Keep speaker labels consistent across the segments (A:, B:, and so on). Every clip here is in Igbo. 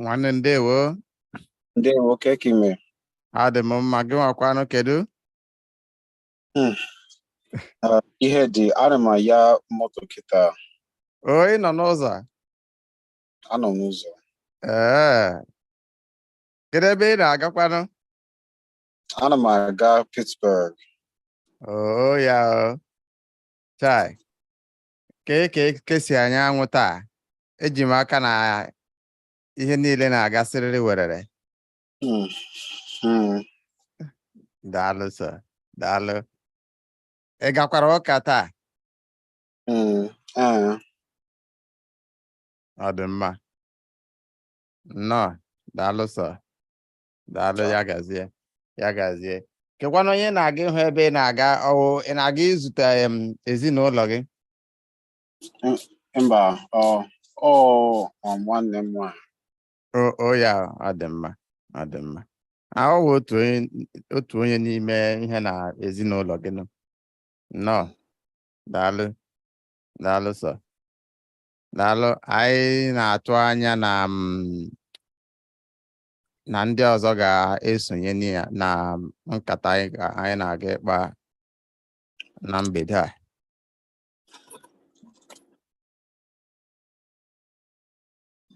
A: nwanne ndewo ndewo
B: kekime adị m
A: mma gị nwakwanụ kedu
B: Hmm. Ah, ihe dị ana m anya moto kịta O, ị
A: nọ
B: n'ụzọ? anọ m n'ụzọ Ee.
A: Kedu ebe ị na-agakwanụ?
B: ana m aga Pittsburgh Oo ya
A: o. Chai. Kee ka eke si anya anwụ taa. Eji m aka na ihe niile na-agasịrịrị werere. Mm, mm. daalụ sọ daalụ ị gakwara ụka taa Mm, ah, ọ dị mma nnọọ daalụ sọ daalụ ya gazie ya gazie kekwanụ onye ị na-aga ịhụ ebe ị na-aga ọ wụ ị na-aga izute em, ezinụlọ gị
B: mba ọ ọ um, nwanne m nwanyị o ya ọ dị
A: mma ọ dị mma ahụ bụ otu onye otu onye n'ime ihe na ezinụlọ gị nọ nnọọ daalụ daalụ sọ daalụ anyị na-atụ anya na mm, na ndị ọzọ ga-esonye na ya- na nkata anyị ga- anyị na-aga ịkpa na mgbede a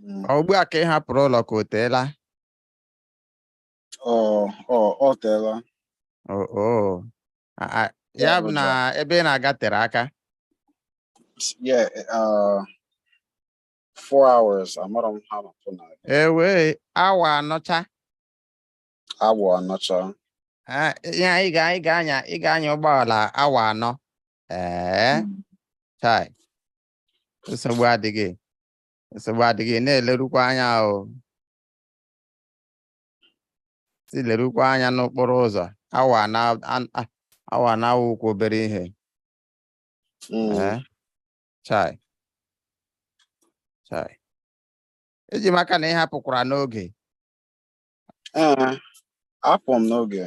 A: Mm. Ọ ugbu a ka ị hapụrụ ụlọ ka o
B: teela? O o o teela. O
A: o a- a- Ya ya bụ bụ na na- ebe ị na-aga tere aka. Yeah,
B: uh, four hours. Amara m ha nọpụ na Ewe
A: awa
B: anọcha. awa anọcha.
A: Ah, Ya ị ga ị ga-anya ị ga-anya ụgbọala awa anọ. Ee, chai. Nsogbu adịghị. nsogbu adịghị na-elerukwa anya o si lerukwa anya n'okporo ụzọ awa anọ an- a- awa anọ awụghịkwa obere ihe Mm. ee chai chai eji m aka na ị hapụkwara n'oge
B: Ee, apụ m n'oge.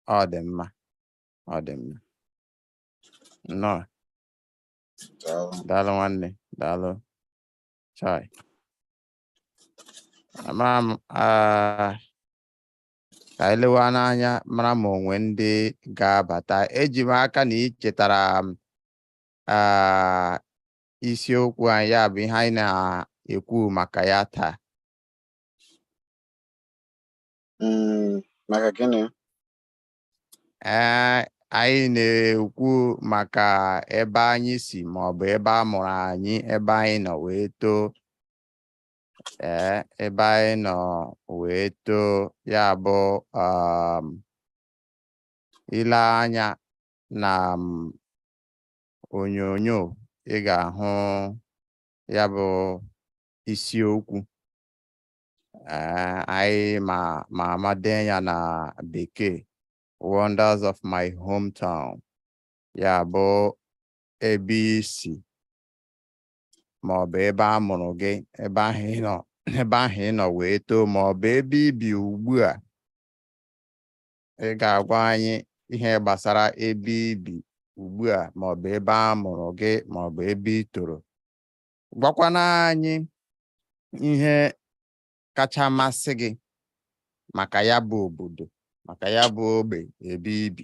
B: ọ dị
A: mma ọ dị mma nnọọ Daalụ. Daalụ nwanne, daalụ. Chai. Ama m ah, ka anyị lewe n'anya mara ma o nwe ndị ga-abata. Eji m aka na ị chetara m ah, isiokwu anyị ya bụ ihe anyị na-ekwu maka ya taa.
B: Mm, maka gịnị? ee
A: anyị na-ekwu maka ebe anyị si ma ọ bụ ebe a mụrụ anyị ebe anyị nọ wee too ee ebe anyị nọ wee too ya bụ um, ile anya na um, onyonyo ị ga-ahụ ya bụ isiokwu Eh, anyị ma ma ama dee ya na bekee wonders of my hometown ya bụ ebe i si ma ọ bụ ebe a mụrụ gị ebe ahụ ị nọ ebe ahụ ị nọ wee too ma ọ bụ ebe i bi ugbu a ị ga-agwa anyị ihe gbasara ebe i bi ugbu a ma ọ bụ ebe a mụrụ gị ma ọ bụ ebe ị toro gwakwanụ anyị ihe kacha masị gị maka ya bụ obodo maka ya bụ ogbe ebe i bi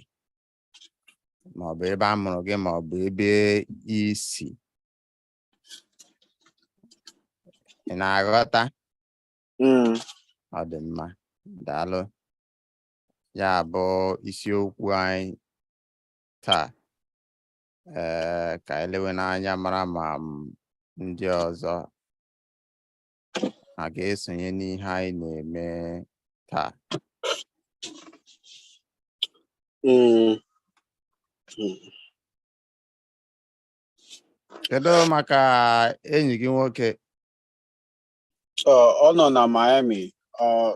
A: ma ọ bụ ebe a mụrụ gị ma ọ bụ ebe i si ị na-aghọta hmm. ọ dị mma daalụ ya bụ isiokwu anyị taa ee ka anyị lewe n'anya mara ma ndị ọzọ a ga-esonye n'ihe anyị na-eme taa hmm. Hmm. kedu maka enyi gị nwoke
B: ọ nọ na Miami oh.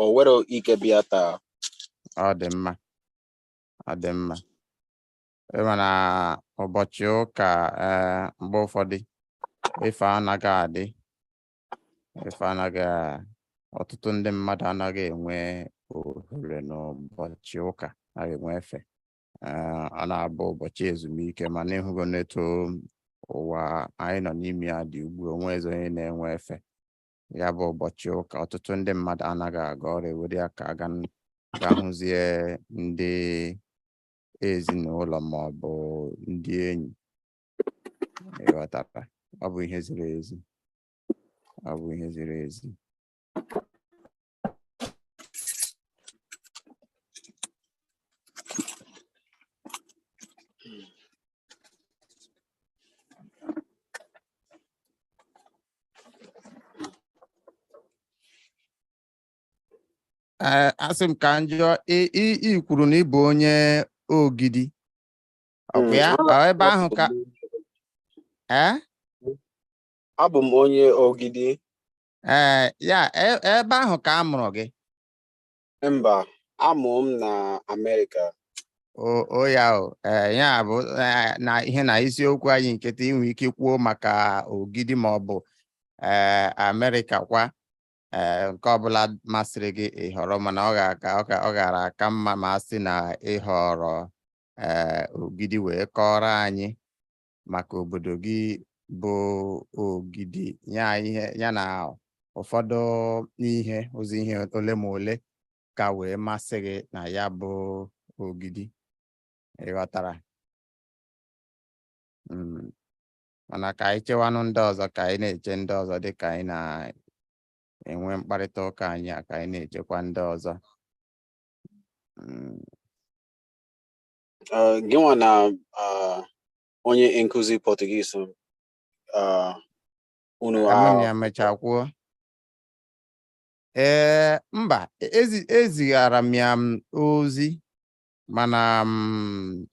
B: o nwere ike bịa taa ọ
A: dị mma ọ dị mma ị ma na ụbọchị ụka ee mgbe ụfọdụ ife anaghị adị ife anaghị a- ọtụtụ ndị mmadụ anaghị enwe ohere n'ụbọchị ụka anaghị enwe efe Ee, ọ na-abụ ụbọchị ezumike mana ị hụgo n'etu ụwa anyị nọ n'ime ya dị ugbu a, o nwezi onye na-enwe efe ya bụ ụbọchị ụka ọtụtụ ndị mmadụ anaghị aga ọrụ e were ya ka a ga n- ga hụzie ndị ezinụlọ ma ọ bụ ndị enyi ị ghọtara ọ bụ ihe ziri ezi ọ bụ ihe ziri ezi Eh, asị m ka m jụọ ị- ị ị kwuru na ị bụ onye ogidi ọkwa ya Ọ ebe ahụ ka ee
B: abụ m onye ogidi
A: ee ya e- ebe ahụ ka a mụrụ gị
B: Mba, amụrụ m na Amerịka. o o ya o
A: ee ya bụ ee, na ihe na isiokwu anyị nke taa i nwe ike kwuo maka ogidi ma ọ bụ ee Amerịka kwa ee nke ọbụla masịrị gị ịhọrọ mana ọ ga-aka ọ ga- ọ gara aka mma ma a sị na ịhọrọ ee ogidi wee kọrọ anyị maka obodo gị bụ ogidi ya ihe ya na ụfọdụ ihe ụzọ ihe ole ma ole ka wee masị gị na ya bụ ogidi ịghọtara hmm. mana ka anyị chewanụ ndị ọzọ ka anyị na-eche ndị ọzọ dị ka anyị na-enwe mkparịta ụka anyị a ka anyị na-echekwa ndị ọzọ hmm.
B: uh, gị nwa na uh, onye nkụzi Portuguese uh, unu Ka mụ na ahụ ya mechaa
A: kwuo ee mba ezi- ezigara m ya m ozi mana m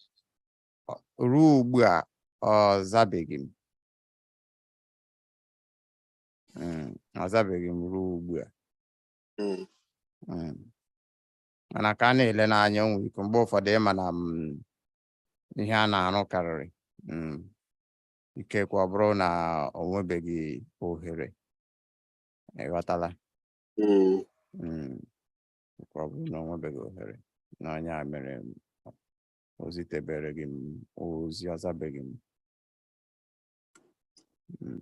A: ọ- ruo ugbu a ọ zabeghị m Mm, ọ zabeghị m ruo ugbu a Mm. Mm. mana ka a na-elenụ anya o nwe ike mgbe ụfọdụ ị ma na mm, ihe a na-arụ karịrị mm, ikekwe ọ bụrụ na o nwebeghị ohere ịghọtala mm, Mm, nke ọ bụrụ na o nwebeghị ohere na ọ nya mere m, o zitebereghị m ozi ọ zabeghị m Mm.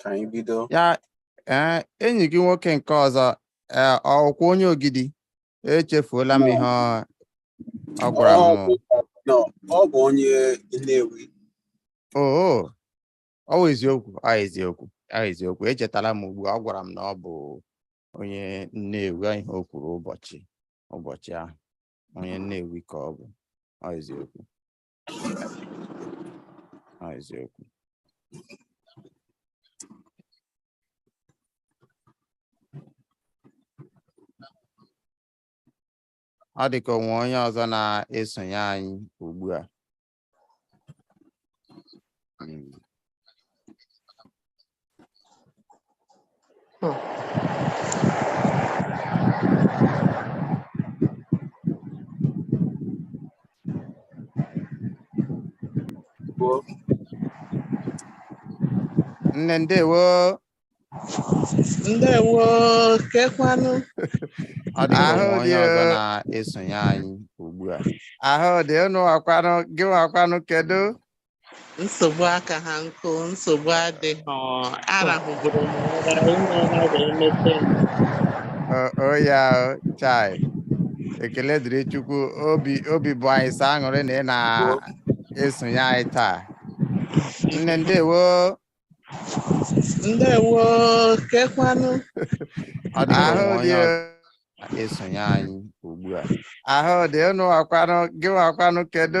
B: ka anyị bido ya
A: ee enyi gị nwoke nke ọzọ ee ọ wụkwa onye ogidi echefuola m ihe ọ- ọ gwara m Ọ bụ- no, ọ bụ onye
B: Nnewi
A: oo ọ wụ eziokwu ọ eziokwu ọ eziokwu echetala m ugbu a, ọ gwara m na ọ bụ onye Nnewi ọ ihe o kwuru ụbọchị ụbọchị ahụ onye Nnewi ka ọ bụ ọ eziokwu Ah, eziokwu. Ọ dị ka o nwe onye ọzọ na-esonye anyị ugbu a. Mm. nne ndewo
C: ndewo
A: kekwanụ ọ dị ka Ahụ o nwe onye dị ọzọ o. na-esonye anyị ugbu a ahụ dị unuwa kwanụ gịwa kwanụ kedu
C: nsogbu aka ha nkụ nsogbu adịghị arahụburu m ụra ime ụra wee mete m O-
A: o ya o, chai ekele dịrị Chukwu obi obi bụ anyị sọ aṅụrị na ị na-esonye anyị taa nne
C: ndewo ndewo
A: kekwanụ Ọ dị ahụ ụmụ dị onye ọ na-esonye anyị ugbu a ahụ dị unuwa kwanụ gịwa kwanụ kedu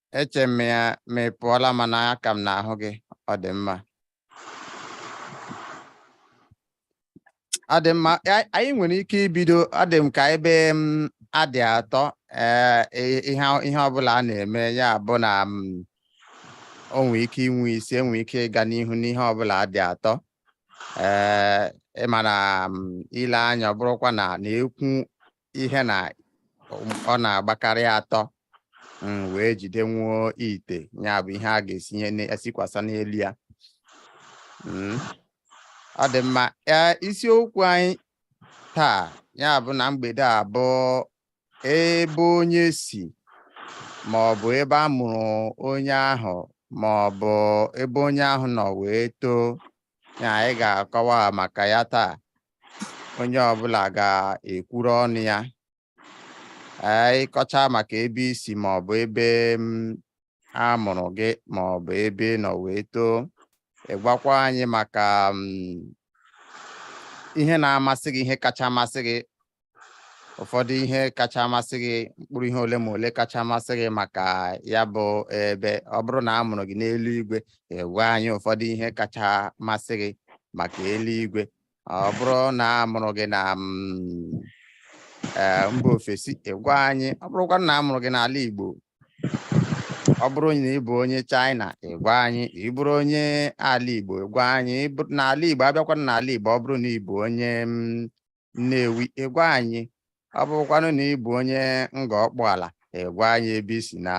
A: eche m ya ma ị pụọla mana aka m na-ahụ gị ọ dị mma ọ dị mma a- anyị nwere ike ibido ọ dị m ka ebe a dị atọ ee i- ihe ọ- ihe ọbụla a na-eme ya bụ na o nwee ike inwe isi o nwe ike ịga n'ihu n'ihe ọbụla dị atọ ee ị ma na i lee anya ọ bụrụkwa na n'ekwu ihe na ọ na-agbakarị atọ wee jidenwuo ite ya bụ ihe a ga-esinye esikwasa n'elu ya mm. ọ dị mma isiokwu anyị taa ya bụ na mgbede a bụ ebe onye si ma ọ bụ ebe a mụrụ onye ahụ ma ọ bụ ebe onye ahụ nọ wee too na anyị ga-akọwa maka ya taa onye ọbụla ga-ekwuru ọnụ ya anyị kọchaa maka ebe i si ma ọ bụ ebe mm, a mụrụ gị ma ọ bụ ebe ị nọ wee too ị gwakwa anyị maka mm, ihe na-amasị gị ihe kacha amasị gị ụfọdụ ihe kacha amasị gị mkpụrụ ihe ole ma ole kacha amasị gị maka ya bụ ebe ọ bụrụ na a mụrụ gị n'eluigwe ị gwa anyị ụfọdụ ihe kacha amasị gị maka eluigwe ọ bụrụ na a mụrụ gị na mm, eh, mba ofesi ị gwa anyị ọ bụrụkwa na a mụrụ gị n'ala Igbo ọ bụrụ na ị bụ onye China ị gwa anyị ị bụrụ onye ala Igbo ị gwa anyị n'ala Igbo a bịakwa n'ala Igbo ọ bụrụ na ị bụ onye mm, Nnewi ị gwa anyị ọ bụrụkwanụ na ị bụ onye Ngọ Ọkpụala ị gwa anyị ebe i si na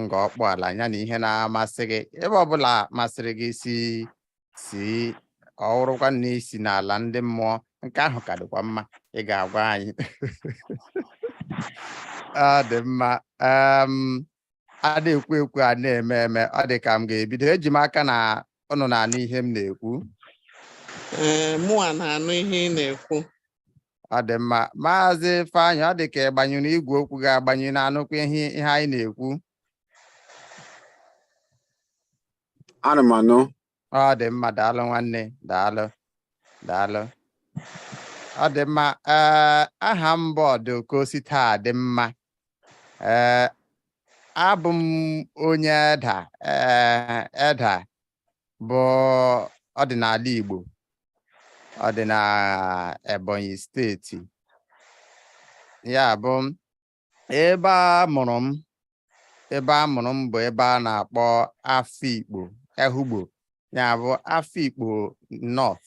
A: Ngọ Ọkpụala ya na ihe na-amasị gị ebe ọbụla masịrị gị si si ọ wụrụkwa na i si n'ala ndị mmụọ nke ahụ ka dịkwa mma ị ga-agwa anyị ọ dị mma a na-ekwu ekwu a na-eme eme ọ dị ka m ga-ebido eji m aka na ụnụ na-anụ ihe m na-ekwu
C: Ee, mụwa na-anụ ihe ị na-ekwu. ọ dị
A: mma maazị Ifeanyị ọ dị ka ị gbanyụrụ igwe okwu gị agbanyụ ị na-anụkwa ihe ihe anyị na-ekwu
B: Ana m anụ. ọ dị
A: mma daalụ nwanne daalụ daalụ ọ dị mma ee aha m bụ Ọdụkọ Ositadịmma ee abụ m onye Eda ee Eda bụ ọ dị n'ala Igbo ọ dị na Ebonyi steeti ya bụ ebe a mụrụ m ebe a mụrụ m bụ ebe a na-akpọ Afikpo Ehugbo ya bụ Afikpo North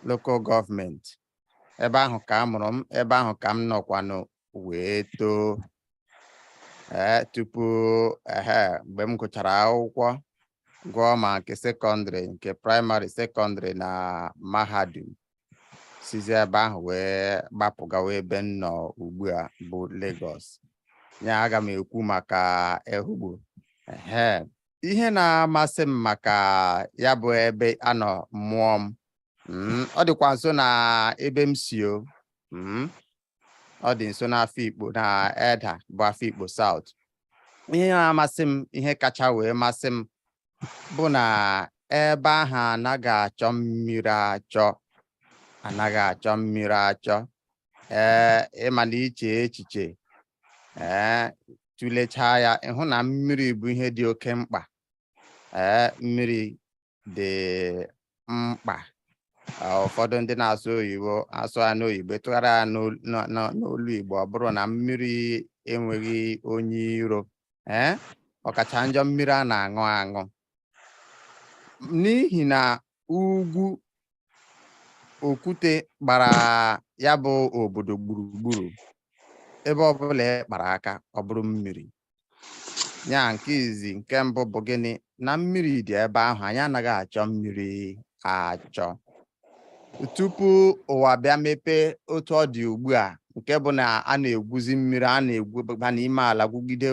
A: local government ebe ahụ ka a mụrụ m ebe ahụ ka m nọkwanụ wee too ee tupu ehe mgbe m gụchara akwụkwọ gụọ ma nke sekọndịrị nke praịmarị sekọndịrị na mahadum sizi ebe ahụ wee gbapụ gawa ebe m nọ ugbu a bụ Lagos ya aga m ekwu maka Ehugbo ehe ihe na-amasị m maka ya bụ ebe a nọ mụọ m mm, ọ dịkwa nso na ebe m si o mm, ọ dị nso n'Afikpo na Eda bụ Afikpo South ihe na-amasị m ihe kacha wee masị m bụ na ebe ahụ anaghị achọ mmiri achọ anaghị achọ mmiri achọ ee ị ma na i chee echiche ee tụlechaa ya ị hụ na mmiri bụ ihe dị oke mkpa ee mmiri dị mkpa ụfọdụ ndị na-asụ oyibo asụ ya n'oyibo tụgharịa ya n'olu Igbo ọ bụrụ na mmiri enweghị onye iro ee ọkacha njọ mmiri a na-aṅụ aṅụ n'ihi na ugwu okwute gbara ya bụ obodo gburugburu ebe ọbụla ị kpara aka ọ bụrụ mmiri ya nke izi nke mbụ bụ gịnị na mmiri dị ebe ahụ anyị anaghị achọ mmiri achọ tupu ụwa bịa mepee otu ọ dị ugbu a nke bụ na a na-egwuzi mmiri a na-egwuba n'ime ala gwugide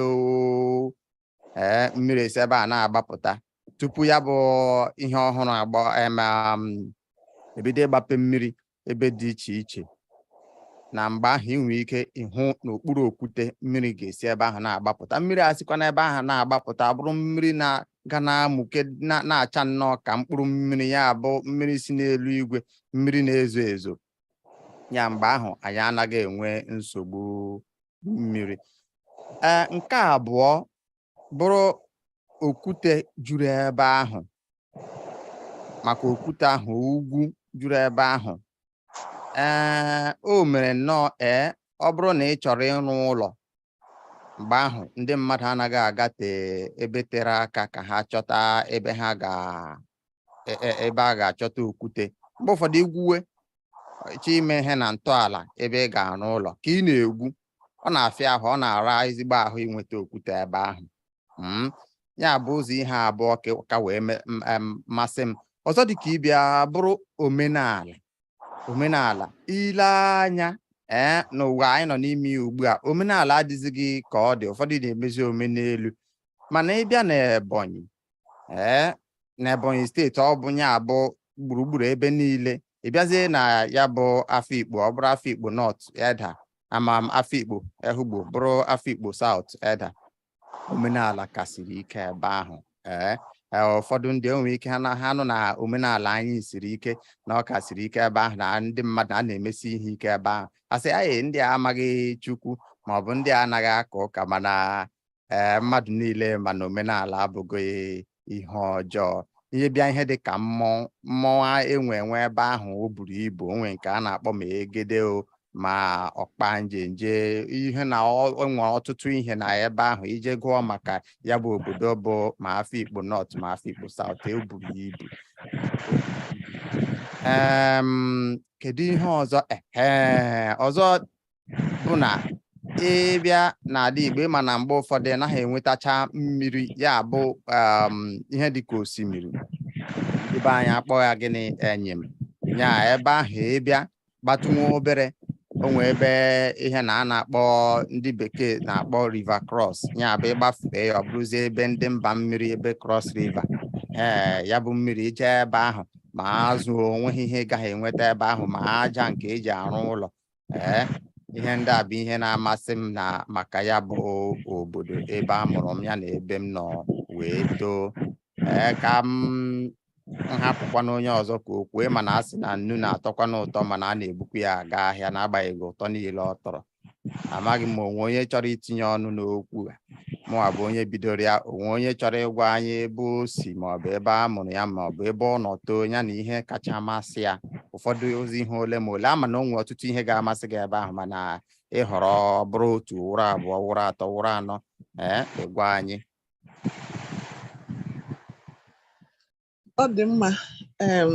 A: ee mmiri esi ebe a na-agbapụta tupu ya bụ ihe ọhụrụ agba um, ebido ịgbape mmiri ebe dị iche iche na mgbe ahụ ị nwere ike ịhụ n'okpuru okwute mmiri ga-esi ebe ahụ na-agbapụta mmiri a sikwa n'ebe ahụ na-agbapụta ọ bụrụ mmiri na-aga na-amụke na- na-acha nnọọ ka mkpụrụ mmiri ya bụ mmiri si n'elu igwe mmiri na-ezo ezo ya mgbe ahụ anyị anaghị enwe nsogbu mmiri ee nke abụọ bụrụ okwute juru ebe ahụ maka okwute ahụ ugwu juru ebe ahụ ee o mere nnọọ ee ọ bụrụ na ị chọrọ ịrụ ụlọ mgbe ahụ ndị mmadụ anaghị agate ebe tere aka ka ha chọta ebe ha ga e, e, ebe a ga-achọta okwute mgbe ụfọdụ i gwuwe chọọ ime ihe na ntọala ebe ị ga-arụ ụlọ ka ị na-egwu ọ na-afịa ahụ ọ na-ara ezigbo ahụ inweta okwute ebe ahụ hmm? ya bụ ụzọ ihe abụọ ka wee masị m ọzọ dị ka ibe ya bụrụ omenala omenala i lee anya ee eh, n'ụwa anyị nọ n'ime ya ugbu a omenala adịzighị ka ọ dị ụfọdụ na-emezi omenelu mana ị bịa na Ebonyi ee eh, n'Ebonyi steeti ọ bụ ya bụ gburugburu ebe niile ị bịazie na ya bụ Afikpo ọ bụrụ Afikpo North Edda ama m Afikpo Ehugbo bụrụ Afikpo South Edda omenala ka siri ike ebe ahụ ee eh, eh, ụfọdụ ndị nwere ike ha nụ na omenala anyị siri ike na ọ ka siri ike ebe ahụ na ndị mmadụ a na-emesi ihe ike ebe ahụ asị na ndị a amaghị Chukwu maọbụ ndị a anaghị aka ụka mana ee eh, mmadụ niile ma na omenala abụghị ihe ọjọọ ị bịa ihe dị ka mmọnwụ mmọnwụ enwe enwe ebe ahụ o buru ibu o nwe nke a na-akpọ ma egede o ma ọkpa njenje ihe na enwe ọtụtụ ihe na ebe ahụ i jee gụọ maka ya bụ obodo bụ ma Afikpo North ma Afikpo South o buru ibu kedu ihe ọzọ ee ọzọ bụ na ị bịa n'ala Igbo ị ma na mgbe ụfọdụ ị naghị enwetacha mmiri ya bụ um, ihe dị ka osimiri ebe anyị akpọ ya gịnị enyim ya ebe ahụ ị bịa gbatụ nwa obere o nwee ebe ihe na a na-akpọ ndị bekee na-akpọ river cross ya bụ ị gbafee ya ọ bụrụzie ebe ndị mba mmiri ebe cross river ee ya bụ mmiri i jee ebe ahụ ma azụ o nweghị ihe ị gaghị enweta ebe ahụ ma aja nke e ji arụ ụlọ ee ihe ndị a bụ ihe na-amasị m na maka ya bụ obodo ebe a mụrụ m ya na ebe m nọ wee too ee ka m hapụkwanụ onye ọzọ ka o kwue mana a sị na nnu na-atọkwanụ ụtọ mana a na-ebukwu ya aga ahịa n'agbanyeghị ụtọ niile ọ tọrọ amaghị m ma o nwe onye chọrọ itinye ọnụ n'okwu a mụnwa bụ onye bidoro ya o nwee onye chọrọ ịgwa anyị ebe o si maọbụ ebe a mụrụ ya maọbụ ebe ọ nọ too ya na ihe kacha masị ya ụfọdụzi ihe ole ma ole a ma na o nwere ọtụtụ ihe ga-amasị gị ebe ahụ mana ị họrọ ọ bụrụ otu wụrụ abụọ wụrụ atọ wụrụ anọ ee ị gwa anyị
C: ọ dị mma em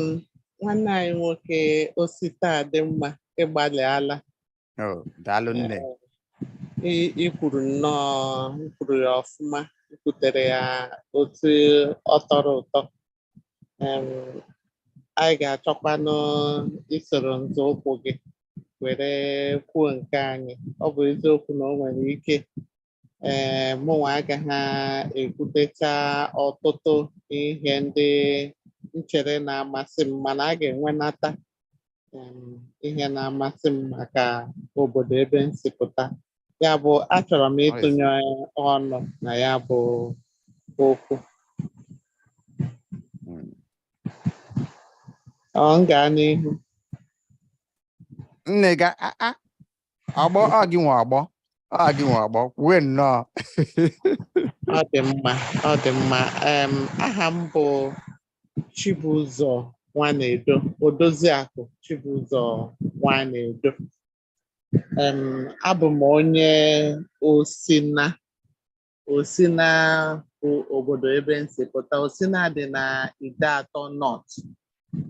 C: nwanne anyị nwoke Ositadịmma ị gbalịala Oh,
A: daalụ nne. I-
C: i kwuru nnọọ i kwuru ya ọfụma i kwutere ya otu ọ tọrọ ụtọ Em, anyị ga-achọkwanụ isoro nzọụkwụ gị were kwuo nke anyị ọ bụ eziokwu na o nwere ike ee mụnwa agaghị ekwutecha ọtụtụ ihe ndị m chere na-amasị m mana a ga-enwenata ihe na-amasị m maka obodo ebe m si pụta ya bụ achọrọ m ịtụnye ọnụ na ya bụ
A: okwu hmm. ọ m gaa
C: n'ihu nne gaa
A: agbọ a gị nwe agbọ a gị nwe agbọ kwuwe
C: nnọọ ọ dị mma ọ dị mma em aha m bụ Chibụzọ Nwanedo Odoziakụ Chibụzọ Nwanedo em abụ m onye Osina Osina bụ obodo ebe m si pụta Osina dị na Ideatọ North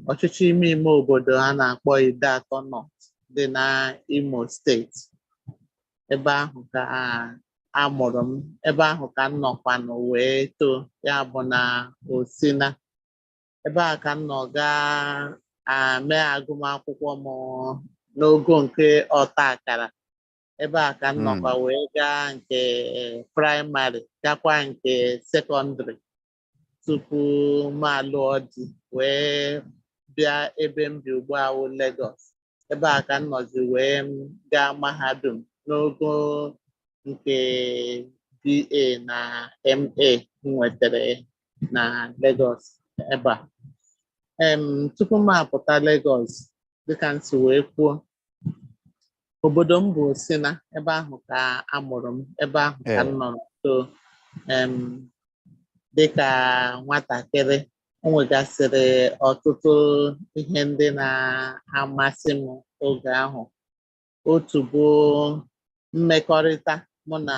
C: ọchịchị ime ime obodo a na-akpọ Ideatọ North dị na Imo steeti ebe ahụ ka a mụrụ m ebe ahụ ka m nọkwanụ wee too ya bụ na Osina ebe a ka m nọ gaa mee agụmakwụkwọ m n'ogo nke ọta akara ebe a ka m nọkwa hmm. wee gaa nke praịmarị gakwa nke sekọndịrị tupu m alụọ di wee bịa ebe m bi ugbu a wụ Lagos ebe a ka m nọzi wee gaa mahadum n'ogo nke BA na MA m nwetara na Lagos ebe a tupu m apụta Lagos dịka m si wee kwuo obodo m bụ Osina ebe ahụ ka a mụrụ m ebe ahụ ka m nọrọ too em, dịka nwatakịrị o nwegasịrị ọtụtụ ihe ndị na-amasị m oge ahụ otu bụ mmekọrịta mụ na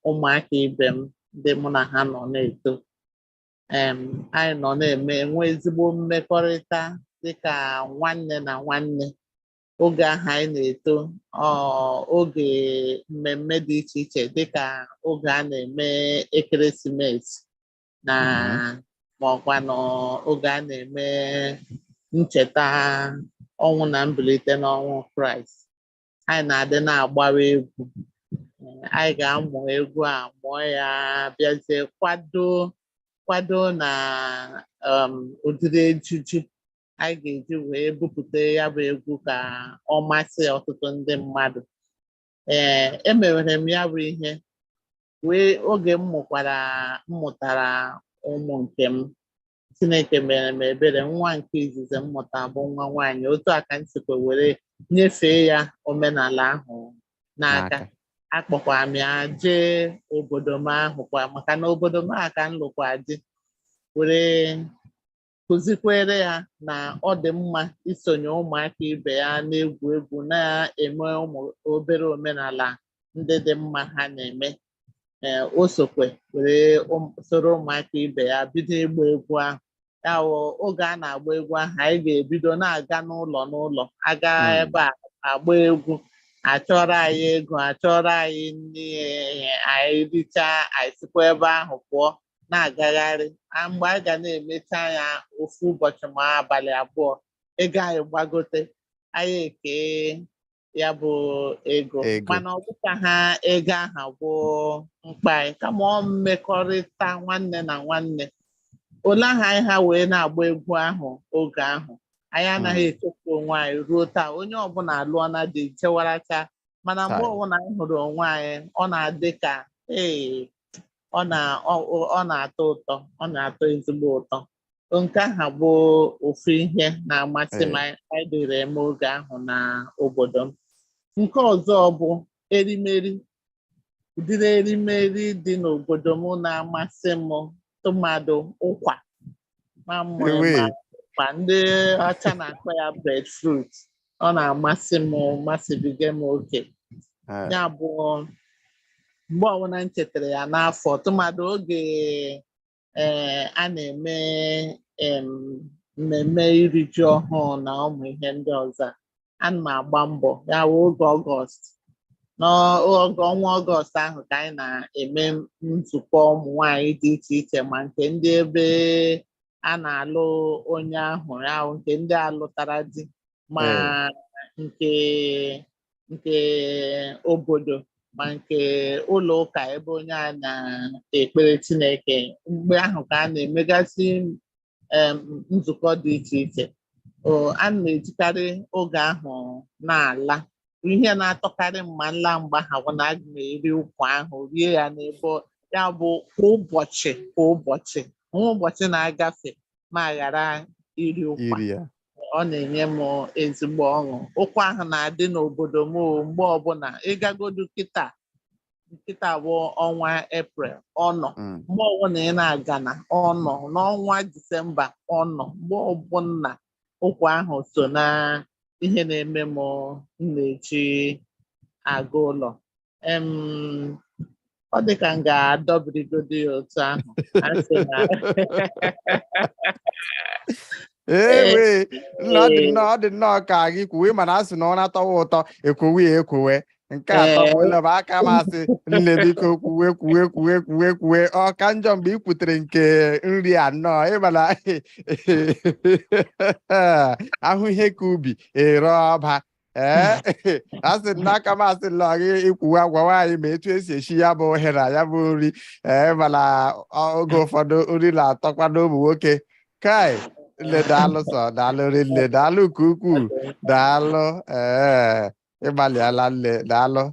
C: ụmụaka ibe m ndị mụ na ha nọ na-eto em anyị nọ na-eme enwe ezigbo mmekọrịta dịka nwanne na nwanne oge ahụ anyị na-eto ọ oge mmemme dị iche iche dịka oge a na-eme ekeresimesi na ma ọkwanụ oge a na-eme ncheta ọnwụ na mbilite n'ọnwụ kraịst anyị na-adị na-agbawa egwu anyị ga-amụ egwu a mụọ ya bịazie kwado kwado na um, ụdịrị ejiji anyị ga-eji wee bupụta ya bụ egwu ka ọ masị ọtụtụ ndị mmadụ ee emewere m ya bụ ihe wee oge m mụkwara m mụtara ụmụ nke m Chineke mere m ebere nwa nke izizi m mụta bụ nwa nwaanyị otu a ka m sikwa were nyefee ya omenala ahụ n'aka akpọkwara m ya jee obodo m ahụ kwa maka na obodo m a ka m lụkwa di were kụzikwere ya na ọ dị mma isonye ụmụaka ibe ya na-egwu egwu na-eme ụmụ obere omenala ndị dị mma ha na-eme ee o sokwe were ụm- soro ụmụaka ibe ya bido ịgba egwu ahụ ya wụ oge a na-agba egwu ahụ anyị ga-ebido na-aga n'ụlọ n'ụlọ aga ebe a agba egwu achọrọ anyị ego achọrọ anyị nri eh, anyị richaa anyị sikwa ebe ahụ pụọ na-agagharị a mgbe a ga na-emecha ya ofu ụbọchị ma abalị abụọ ego anyị gbagote anyị ekee ya bụ ego mana ọ bụkwaha ego aha bụ mkpa anyị kama ọ mmekọrịta nwanne na nwanne ole aha anyị ha wee na-agba egwu ahụ oge ahụ anyị anaghị echefu onwe anyị ruo taa onye ọbụla alụọna di jewaracha mana mgbe ọbụla anyị hụrụ onwe anyị ọ na-adị ka ee ọ na- ọ- ọ- ọ na-atọ ụtọ ọ na-atọ ezigbo ụtọ nke aha bụ ofu ihe na-amasị m anyị dịrị eme oge ahụ na obodo m nke ọzọ bụ erimeri ụdịrị erimeri dị n'obodo m na-amasị m tụmadụ ụkwa ma ị ma ụkwa ndị ọcha na-akpọ ya breadfruit ọ na-amasị m masịbiga m oke ya bụ mgbe ọbụla m chetara ya n'afọ tụmadụ oge ee a na-eme em, mmemme iri ji ọhụụ na ụmụ ihe ndị ọzọ ana m agba mbọ ya wụ oge ọgọst n'oge ọnwa ọgọst ahụ ka anyị na-eme nzukọ ụmụ nwanyị dị iche iche ma nke ndị ebe a na-alụ onye ahụ ya wụ nke ndị alụtara di ma nke nke obodo ma nke ụlọ ụka ebe onye a na-ekpere Chineke mgbe ahụ ka a na-emegasị nzukọ dị iche iche a na-ejikarị oge ahụ na-ala ihe na-atọkarị m ma m laa mgbe ahụ bụ na aga m eri ụkwa ahụ rie ya n'ebe ya bụ kwa ụbọchị kwa ụbọchị o nweghị ụbọchị na-agafe m aghara iri ụkwa ọ na-enye m ezigbo ọṅụ ụkwa ahụ na-adị n'obodo m o, mgbe ọbụla ị gagodu kịta kịta bụ ọnwa eprel ọ nọ mgbe ọbụla ị na-aga na ọ nọ n'ọnwa disemba ọ nọ mgbe ọbụla ụkwa ahụ so na ihe na-eme m m na-eji aga ụlọ ọ dị ka m ga-adọbirigodi ya otu ahụ asị na
A: ewe ọ dị nnọọ ọ dị nnọọ ka gị kwuwe mana a sị na ụra tọwa ụtọ e kwowe ya ekwowe nke a tọbụla bụ aka m asị nne biko kwuwe kwuwe kwuwe kwuwe kwuwe ọ ka njọ mgbe ị kwutere nke nri a nnọọ ị ma na a hụ ihe ka ubi e ree ọba ee asị m n'aka m asị nnọọ gị kwuwe gwawa anyị ma etu esi eshi ya bụ ohe na ya bụ nri ee mana ọ- oge ụfọdụ nri na-atọkwanụ ụmụ nwoke kai nne daalụ sọ daalụ rinne daalụ nke ukwuu daalụ ee ịgbalịala nne daalụ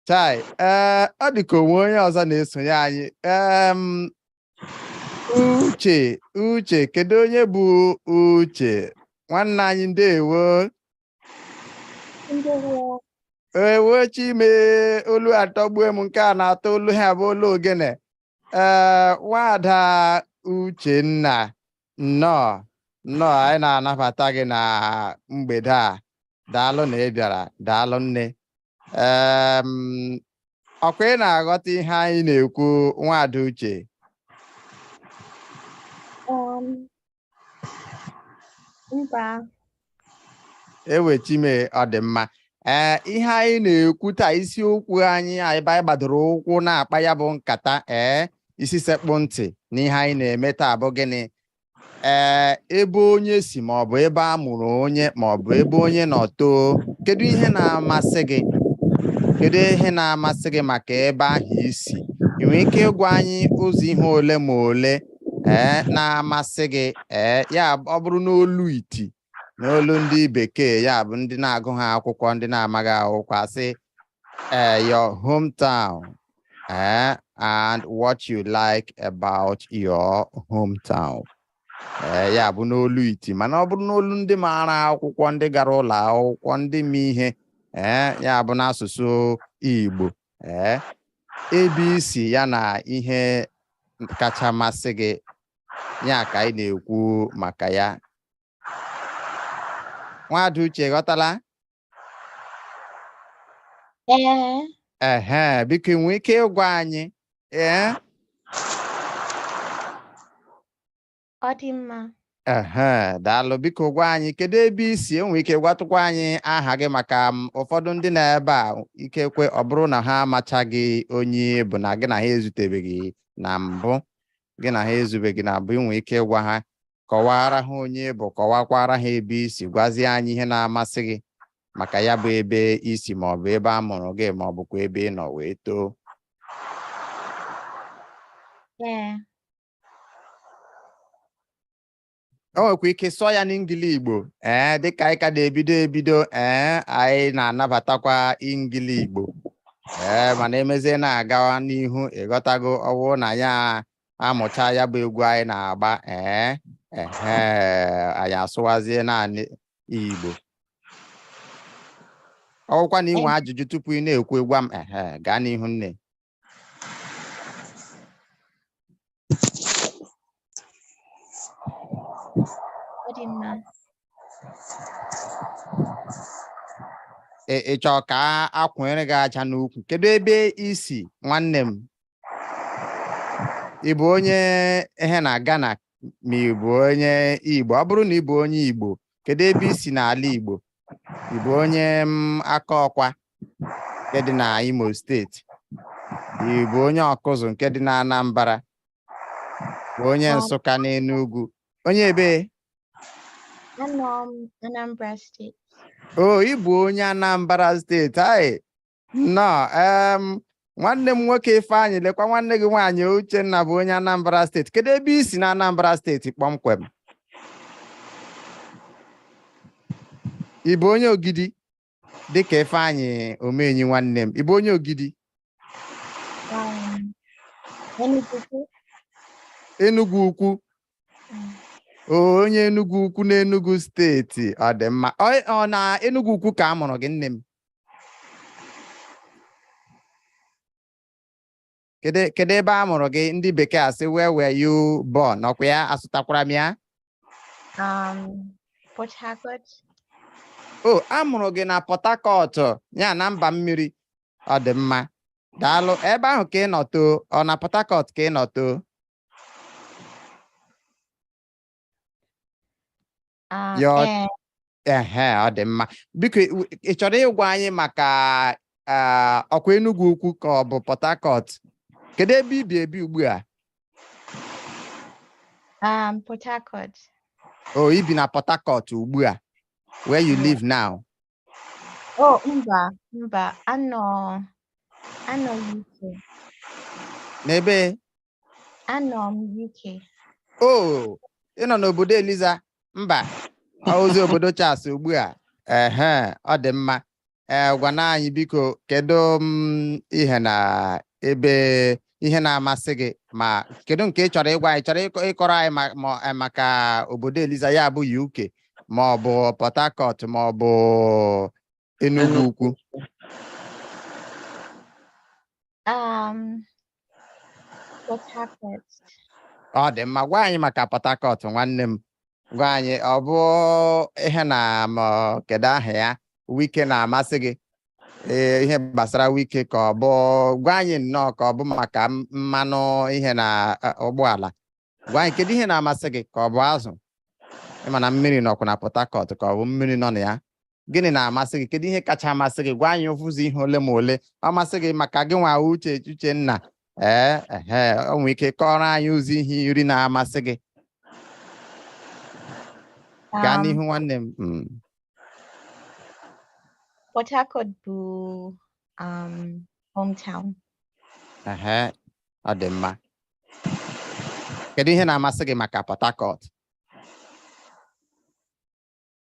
A: chai ee ọ dị ka onwe onye ọzọ na-esonye anyị em uche uche kedu onye bụ uche nwanne anyị ndewo ewo chi m e olu atọgbue m nke a na-atọ olu ihe a bụ olu ogene ee nwada uchenna nnọọ nnọọ anyị na-anabata gị na mgbede a daalụ na ị bịara daalụ nne ee ọkwa ị na-aghọta ihe anyị na-ekwu nwada uche Mba. ewo chi m e ọ dị mma ee ihe anyị na-ekwu taa isiokwu anyị ebe anyị gbadoro ụkwụ na-akpa ya bụ nkata ee isi sekpụ ntị n'ihe anyị na-eme taa bụ gịnị ee ebe onye si ma ọ bụ ebe a mụrụ onye ma ọ bụ ebe onye nọ too kedu ihe na-amasị gị kedu ihe na-amasị gị maka ebe ahụ i si ị nwere ike ịgwa anyị ụzọ ihe ole ma ole ee eh, na-amasị gị ee eh, ya ọ bụrụ n'olu iti n'olu ndị bekee ya bụ ndị na-agụ ha akwụkwọ ndị na-amaghị akwụkwọ asị ee eh, your hometown ee and what you like about your hometown ee ya bụ n'olu iti mana ọ bụrụ n'olu ndị maara akwụkwọ ndị gara ụlọ akwụkwọ ndị ma ihe ee ya bụ n'asụsụ Igbo ee ebe i si ya na ihe kacha masị gị ya ka anyị na-ekwu maka ya nwada uche ghọtala ehe biko ị nwee ike ịgwa anyị ee
D: Ọ dị mma.
A: Ehe, daalụ. Biko gwa anyị kedu ebe i si i nwee ike gwatụkwa anyị aha gị maka ụfọdụ ndị na ebe a ikekwe ọ bụrụ na ha amachaghị onye ị bụ na gị na ha ezutebeghị na mbụ gị na ha ezubeghị na mbụ i nwee ike ịgwa ha kọwara ha onye ị bụ kọwakwara ha ebe i si gwazie anyị ihe na-amasị gị maka ya bụ ebe i si ma ọ bụ ebe a mụrụ gị ma ọ bụkwa ebe ị nọ wee too Ee, o nwekwa ike sụọ ya n'ingili igbo ee dịka anyị ka na-ebido ebido ee anyị na-anabatakwa ingili igbo ee mana e mezie na-agawa n'ihu ị ghọtago ọ wụ na anyị amụcha ya bụ egwu anyị na-agba ee ehe anyị asụwazie naanị igbo ọ wụkwa na i nwe ajụjụ tupu ị na-ekwu gwa m ehe gaa n'ihu nne Ọ dị mma. Ị ị chọrọ ka a- a kwụnyere gị aja n'ukwu kedu ebe i si nwanne m ị bụ onye ihe na Ghana ma ị bụ onye Igbo ọ bụrụ na ị bụ onye Igbo kedu ebe i si n'ala Igbo ị bụ onye mm, akọkwa nke dị na imo steeti ị bụ onye ọkụzụ nke dị na anambra bụ onye nsụka n'enugwu onye ebe Anọ
D: m Anambra steeti. o ị bụ
A: onye anambra steeti anyị nnọọ em nwanne m nwoke ifeanyị lekwa nwanne gị nwaanyị uchenna bụ onye anambra steeti kedu ebe i si na anambra steeti kpọmkwem ị bụ onye ogidi dịka ifeanyị omenyi nwanne m ị bụ onye ogidi enugwu ukwu onye enugwu ukwu na enugwu steeti ọ dị mma ọ na enugwu ukwu ka a mụrụ gị nne m kedu kedu ebe a mụrụ gị ndị bekee asị where were you born ọkwa ya asụtakwara m ya Um,
D: Port Harcourt.
A: o a mụrụ gị na port harcourt ya na mba mmiri ọ dị mma daalụ ebe ahụ ka ị nọ too ọ na port harcourt ka ị nọ too Ah, Your eh, ehe ọ dị mma biko ị ị chọrọ ịgwa anyị maka ah, ọkwa Enugwu Ukwu ka ọ bụ Port Harcourt kedu ebe i bi ebi ugbu a um,
D: Port Harcourt. o i
A: bi na Port Harcourt ugbu a where you live now Oh, mba,
D: mba, anọ, anọ UK.
A: n'ebe
D: Anọ m UK.
A: o ị nọ n'obodo eliza mba ọ bụzi obodo Charles ugbu a ehe ọ dị mma ee gwanụ anyị biko kedu m ihe na ebe ihe na-amasị gị ma kedu nke ị chọrọ ịgwa anyị chọrọ ịkọ- ịkọrọ anyị ma- ma- eh, maka obodo eliza ya bụ uk ma ọ bụ port harcourt ma ọ bụ Enugwu Ukwu.
D: Um, Port Harcourt. Ọ dị
A: mma gwa anyị maka Port Harcourt nwanne m gwa anyị ọ bụ ihe na ma kedu aha ya Wike na-amasị gị ee ihe gbasara Wike ka ọ bụ gwa anyị nnọọ ka ọ bụ maka m- mmanụ ihe na eh, ụgbọala gwa anyị kedu ihe na-amasị gị ka ọ bụ azụ ị ma na mmiri nọkwa na Port Harcourt ka ọ bụ mmiri nọ na ya gịnị na-amasị gị kedu ihe kacha amasị gị gwa anyị ofu ụzọ ihe ole ma ole amasị gị maka gị nwa uche uchenna ee ehe o nwere ike kọọrọ anyị ụzọ ihe iri na-amasị gị gaa Um, n'ihu nwanne m Mm.
D: Port Harcourt bụ um,
A: hometown. Ehe, ọ dị mma. Kedu ihe na-amasị gị maka Port Harcourt?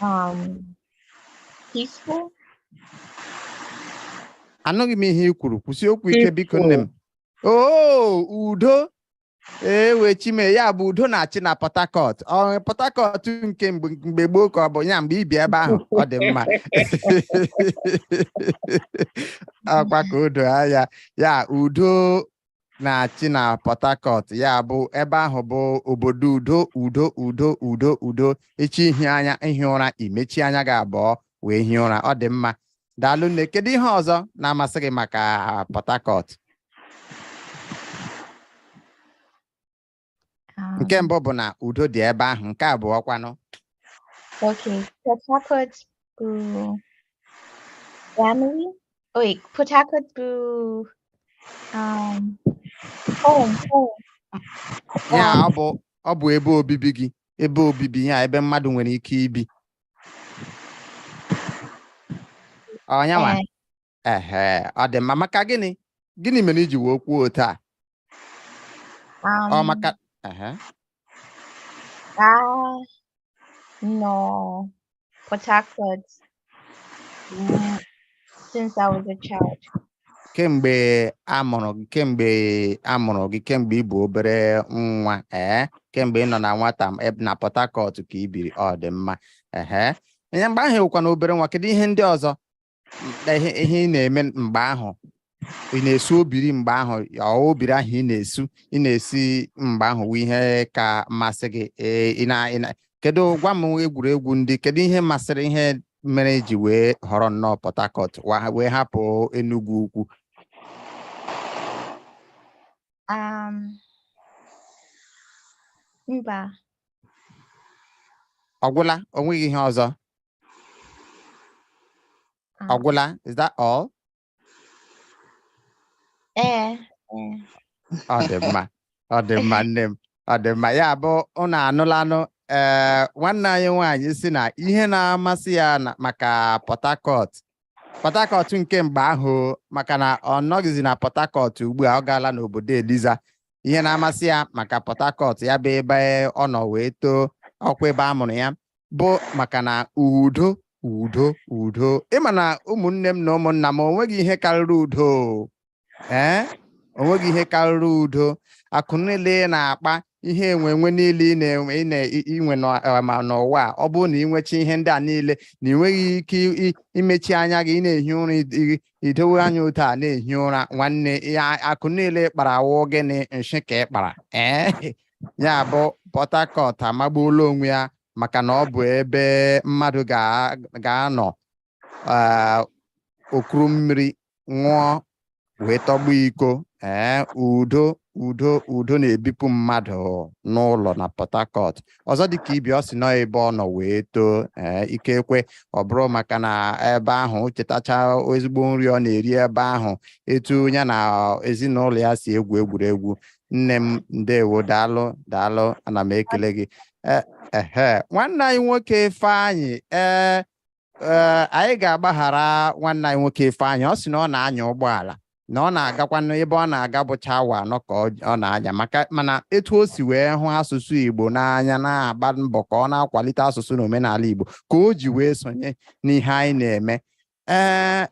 D: Um,
A: peaceful. Anụghị m ihe i kwuru kwusie okwu ike biko nne m. Oo udo ewo chi m e ya bụ udo na-achị na Port Harcourt ọ Port Harcourt nke mgbe mgbe gboo ka ọ bụ ya mgbe i bi ebe ahụ ọ dị mma ọkwa ka o doo anya ya udo na-achị na Port Harcourt ya bụ ebe ahụ bụ obodo udo udo udo udo udo echi ihi anya ihi ụra i mechie anya gị abụọ wee hie ụra ọ dị mma daalụ nne kedu ihe ọzọ na-amasị gị maka Port Harcourt Um, nke mbụ bụ na udo dị ebe ahụ nke abụọ kwanụ
D: Okay, Port Harcourt bụ family. Oh, wait, Port Harcourt bụ
A: um, home, home. ya Um, ọ bụ ọ bụ ebe obibi gị ebe obibi ya ebe mmadụ nwere ike ibi ọnyanwa eh, ehe ọ dị mma maka gịnị gịnị mere i ji wee kwuo otu a ọ um, maka ehe
D: a nọ Port Harcourt mm, since I was a child.
A: kemgbe a mụrụ gị kemgbe a mụrụ gị kemgbe ị bụ obere nwa ee kemgbe ị nọ na nwata m eb- na Port Harcourt ka i biri ọ dị mma ehe ihe mgbe ahụ ị wụkwanụ obere nwa kedu ihe ndị ọzọ ihe ihe ị na-eme mgbe ahụ ị na-esu obiri mgbe ahụ ọ obiri ahụ ị na-esu ị na-esi mgbe ahụ wụ ihe ka masị gị ee ị na ị na kedu gwa m egwuregwu ndị kedu ihe masịrị ihe mere i ji wee họrọ nnọọ Port Harcourt wa- wee hapụ Enugwu Ukwu Um,
D: mba
A: ọ gwụla o nweghị ihe ọzọ Ah. Ọ gwụla, is that all? Ee. Ọ dị mma, ọ dị mma nne m, ọ dị mma. Ya bụ unu anụlanụ ee nwanne anyị nwaanyị sị na ihe na-amasị ya na- maka Port Harcourt. Port Harcourt nke mgbe ahụ maka na ọ nọghịzi na Port Harcourt ugbu a ọ gaala n'obodo Eliza. Ihe na-amasị ya maka Port Harcourt ya bụ ebe ọ nọ wee too ọkwa ebe a mụrụ ya. bụ maka na udo udo udo ị ma na ụmụnne m na ụmụnna m o nweghị ihe karịrị udo ee eh? o nweghị ihe karịrị udo akụ niile ị na-akpa ihe enwe enwe niile ị na-enwe ị na- i nwe eh, ma n'ụwa a ọ bụrụ na i nwecha ihe ndị a niile na i nweghị ike imechi anya gị ị na-ehi ụra idowe anya otu a na-ehi ụra nwanne akụ niile ị kpara wụ gịnị nshị ka ị kpara ee eh? ya bụ Port Harcourt amagbuola onwe ya maka na ọ bụ ebe mmadụ ga-anọ eh, o kuru mmiri ṅụọ wee tọgbọ iko ee eh, udo udo udo na-ebipụ mmadụ n'ụlọ na Port Harcourt ọzọ dịka ibi ọ sị na ọ ebe ọ nọ wee too ee eh, ikekwe ọ bụrụ maka na ebe ahụ o chetacha ezigbo nri ọ na-eri ebe ahụ etu ya na ezinụlọ ya si egwu egwuregwu nne m ndewo daalụ daalụ ana m ekele gị E- ehe nwanne anyị nwoke Ifeanyị ee ee, anyị ga-agbaghara nwanne anyị nwoke Ifeanyị ọ sị na ọ na-anya ụgbọala na ọ na-agakwanụ ebe ọ na-aga bụcha awa anọ ka ọ ọ na-anya maka mana etu o si wee hụ asụsụ Igbo n'anya na-agba mbọ ka ọ na-akwalite asụsụ na omenala Igbo ka o ji wee sonye n'ihe anyị na-eme ee eh,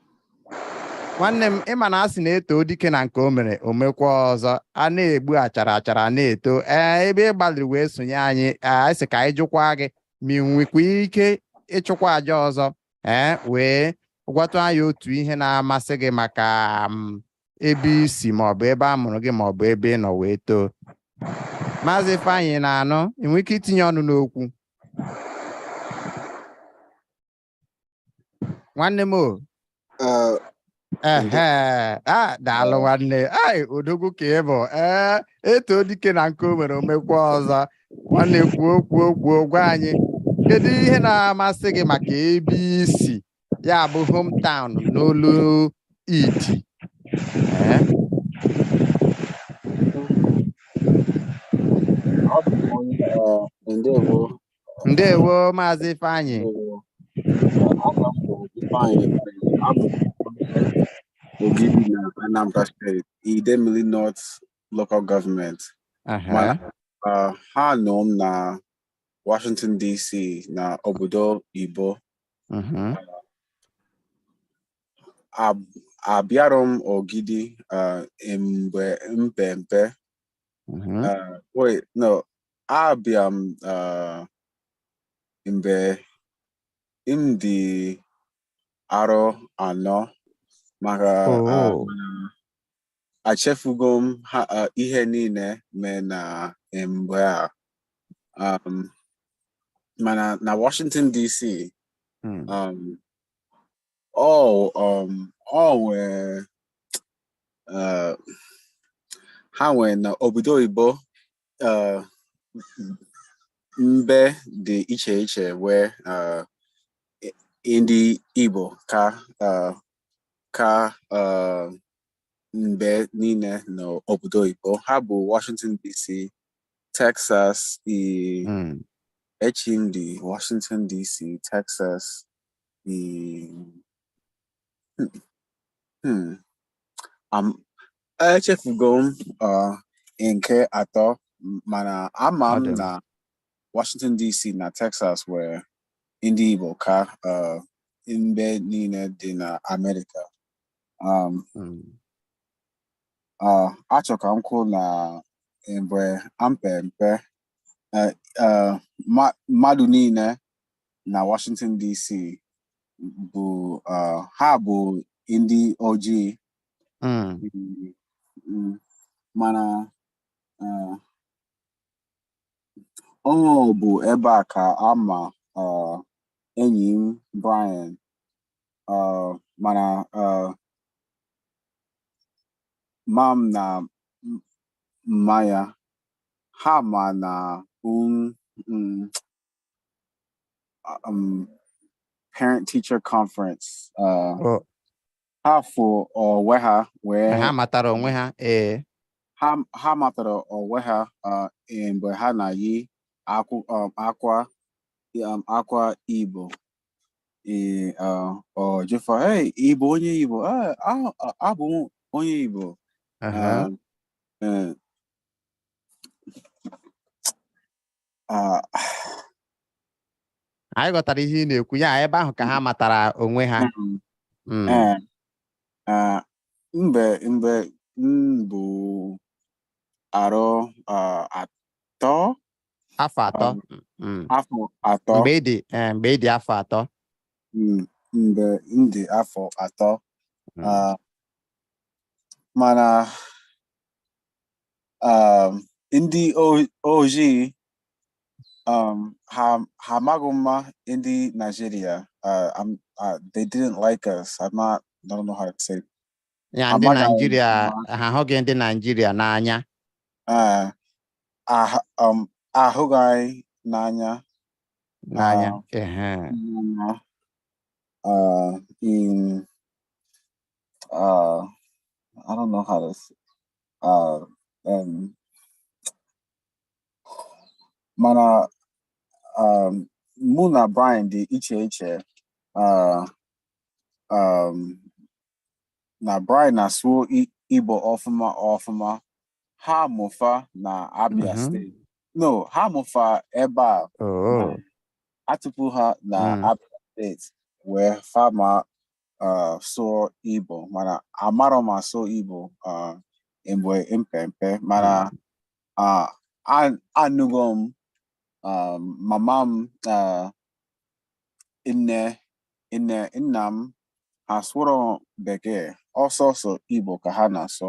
A: nwanne m ịma na a sị na e too dike na nke o mere o mekwaa ọzọ a na-egbu achara achara na-eto ee eh, ebe ị gbalịrị wee sonye anyị anyị eh, sị ka anyị jụkwa gị ma ị nwekwa ike ịchụkwa aja ọzọ ee wee gwatụ anyị otu ihe na-amasị gị maka mm, ebe i si maọbụ ebe a mụrụ gị maọbụ ebe ị nọ wee too maazị Ifeanyị na-anụ ị nwere ike itinye ọnụ n'okwu nwanne m o Ah, ehe a daalụ nwanne ai odogwu ka ị bụ ee e too dike na nke o mere o mekwaa ọzọ nwanne kwuo kwuo kwuo gwa anyị kedu ihe na-amasị gị maka ebe i si ya bụ hometown n'olu iti Ee, ah, ndewo ndewo maazị
B: Ifeanyị Ogidi na Anambra State Idemili North Local Government Uh, ha mụ m na Washington DC na obodo oyibo mm-hmm. uh, abịara m Ogidi uh, mgbe m pe mpe mm-hmm. wait no abịa m uh, mgbe m dị arọ anọ maka uh, Oh. achefugo m ha uh, ihe niile mee na mgbe a um, mana na Washington DC Hmm. um, ọ um, ọ nwee uh, ha nwee na obodo oyibo uh, mbe dị iche iche nwee uh, ndị Igbo ka uh, ka uh, mbe niile n'obodo oyibo ha bụ Washington DC Texas i mm. echi ndị Washington DC Texas i hmm, hmm. echefugo m uh, nke atọ m- mana ama m na Washington DC na Texas nwere ndị Igbo ka uh, mbe niile dị na Amerịka um, Mm. uh, achọ ka m kwuo na mgbe m pe mpe uh, uh, ma- mmadụ niile na Washington DC bụ uh, ha bụ ndị ojii Mm. Mm, mm. mana eh, ọ bụ ebe a ka a ma eh, enyi m Brian eh, mana eh, mma m na m- mma ya ha ma na um, mm, um, parent teacher conference uh, Oh, ha fụ onwe ha wee ha matara onwe
A: ha
B: ee ha matara onwe ha e, mgbe ha na-eyi um, akwa um, akwa Igbo ọ jụ fa ị bụ onye Igbo abụ onye Igbo e,
A: Ah, anyị ghọtara ihe ị na-ekwu ya ebe ahụ ka ha matara onwe ha mm, Mm. eh, ah,
B: mgbe mgbe m bụ arọ ah, atọ afọ
A: atọ Mm. afọ
B: atọ mgbe ị dị eh, mgbe ị
A: dị afọ atọ mm,
B: mgbe m dị afọ atọ Mm. ah, mana um, ndị ojii um, ha ha amaghị mma ndị Nigeria uh, um, uh, they didn't like us I don't know how to say ya ndị
A: Nigeria ha ahụghị ndị Nigeria n'anya uh, um,
B: ahụghị anyị n'anya n'anya uh, uh, in uh, I don't know how to, uh, and mana um, mụ na Brian dị iche iche uh, um, na Brian na-asụ Igbo ọfụma ọfụma ha mụ fa na Abia mm-hmm. State no ha mụ fa ebe a oh. atụpụ ha na mm. Abia State wee fa ma uh, sụọ Igbo mana amarọ m asụ Igbo uh, mgbe m pe mpe mana uh, a- anụgo m um, mama m uh, nne nne nna m ha asụrọ bekee ọ sọsọ Igbo ka ha na-asụ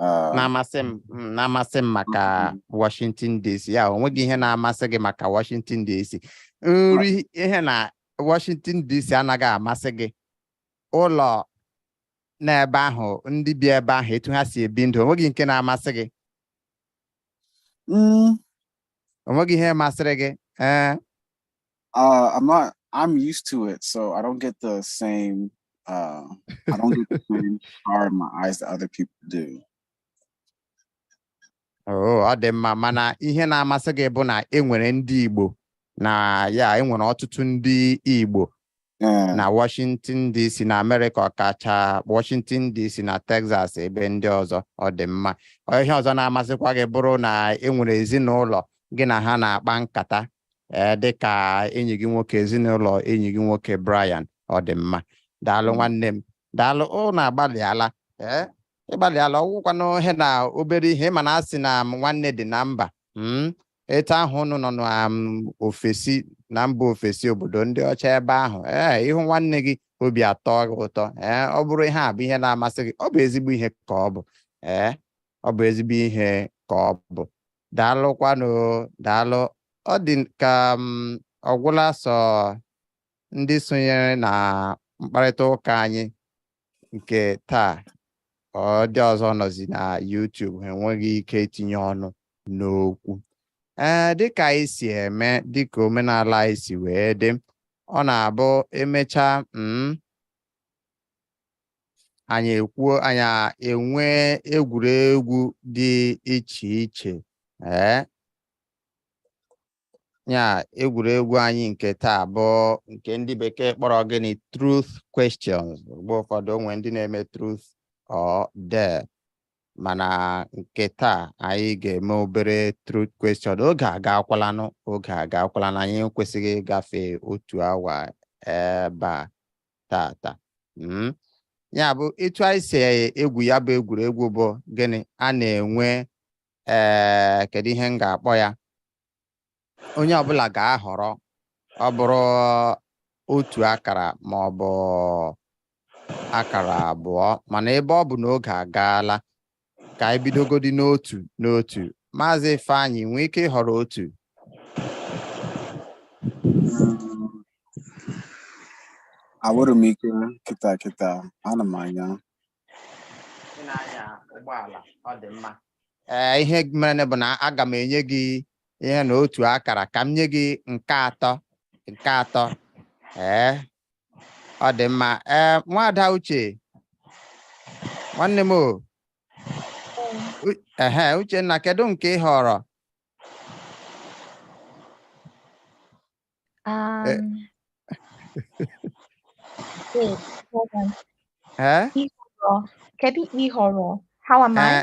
B: Ah, na-amasị m mm,
A: na-amasị m maka Washington DC ya o nweghị ihe na-amasị gị maka Washington DC nri ihe na Washington DC anaghị amasị gị ụlọ n'ebe ahụ ndị bi ebe ahụ etu ha si ebi ndụ o nweghị nke na-amasị gị mm, o nweghị ihe masịrị gị ee
B: Uh, I'm not. I'm used to it, so I don't get the same. Uh, I don't get the same fire in my eyes that other people do.
A: Oh, ọ dị mma mana ihe na-amasị gị bụ na e nwere ndị Igbo na ya e nwere ọtụtụ ndị Igbo Yeah. na Washington DC na Amerịka ọkacha Washington DC na Texas ebe ndị ọzọ ọ dị mma Ọ ihe ọzọ na-amasịkwa gị bụrụ na e nwere ezinụlọ gị na ha na-akpa nkata ee dịka enyi gị nwoke ezinụlọ enyi gị nwoke Brian ọ dị mma daalụ mm. nwanne m daalụ ụnụ agbalịala ee ị gbalịala ọ wụkwanụ ihe na obere ihe ị ma na a sị na nwanne dị na mba hmm? etu ahụ ụnụ nọ n'ofesi um, na mba ofesi obodo ndị ọcha ebe ahụ ee ị hụ nwanne gị obi atọ gị ụtọ ee ọ bụrụ ihe a bụ ihe na-amasị gị ọ bụ ezigbo ihe ka ọ bụ ee ọ bụ ezigbo ihe ka ọ bụ Daalụkwanụ o, daalụ. Ọ dị ka ọ gwụla sọ ndị sonyere na mkparịta ụka anyị nke taa ndị ọzọ nọzi na YouTube ha enweghị ike itinye ọnụ n'okwu ee dịka anyị si eme dịka omenala anyị si wee dị ọ na-abụ e mechaa mm, anyị ekwuo anyị a- enwee egwuregwu dị iche iche ee ya egwuregwu anyị nke taa bụ nke ndị bekee kpọrọ gịnị truth questions mgbe ụfọdụ o nwee ndị na-eme truth or dare mana nke taa anyị ga-eme obere truth question oge agakwalanụ oge agakwalanụ anyị ekwesịghị ịgafe otu awa ebe a taata hmm? ya bụ etu anyị si egwu ya bụ egwuregwu bụ gịnị a na-enwe ee eh, kedu ihe m ga-akpọ ya onye ọbụla ga-ahọrọ ọ bụrụ otu akara ma ọ bụ akara abụọ mana ebe ọ bụ na oge agaala ka anyị bidogodi n'otu n'otu maazị Ifeanyị nwee ike ịhọrọ
B: otu Enwerọ m ike kịta kịta ana m
A: anya ị na-anya ụgbọala ọ dị mma ee ihe mere bụ na aga m enye gị ihe na otu akara ka m nye gị nke atọ nke atọ ee ọ dị mma ee nwada uche nwanne m o U- ehe uchenna kedu nke ị họrọ
D: Um, wait, hold on. ee Ịhọrọ.
A: Kedu
D: ịhọrọ? How am I? Ee,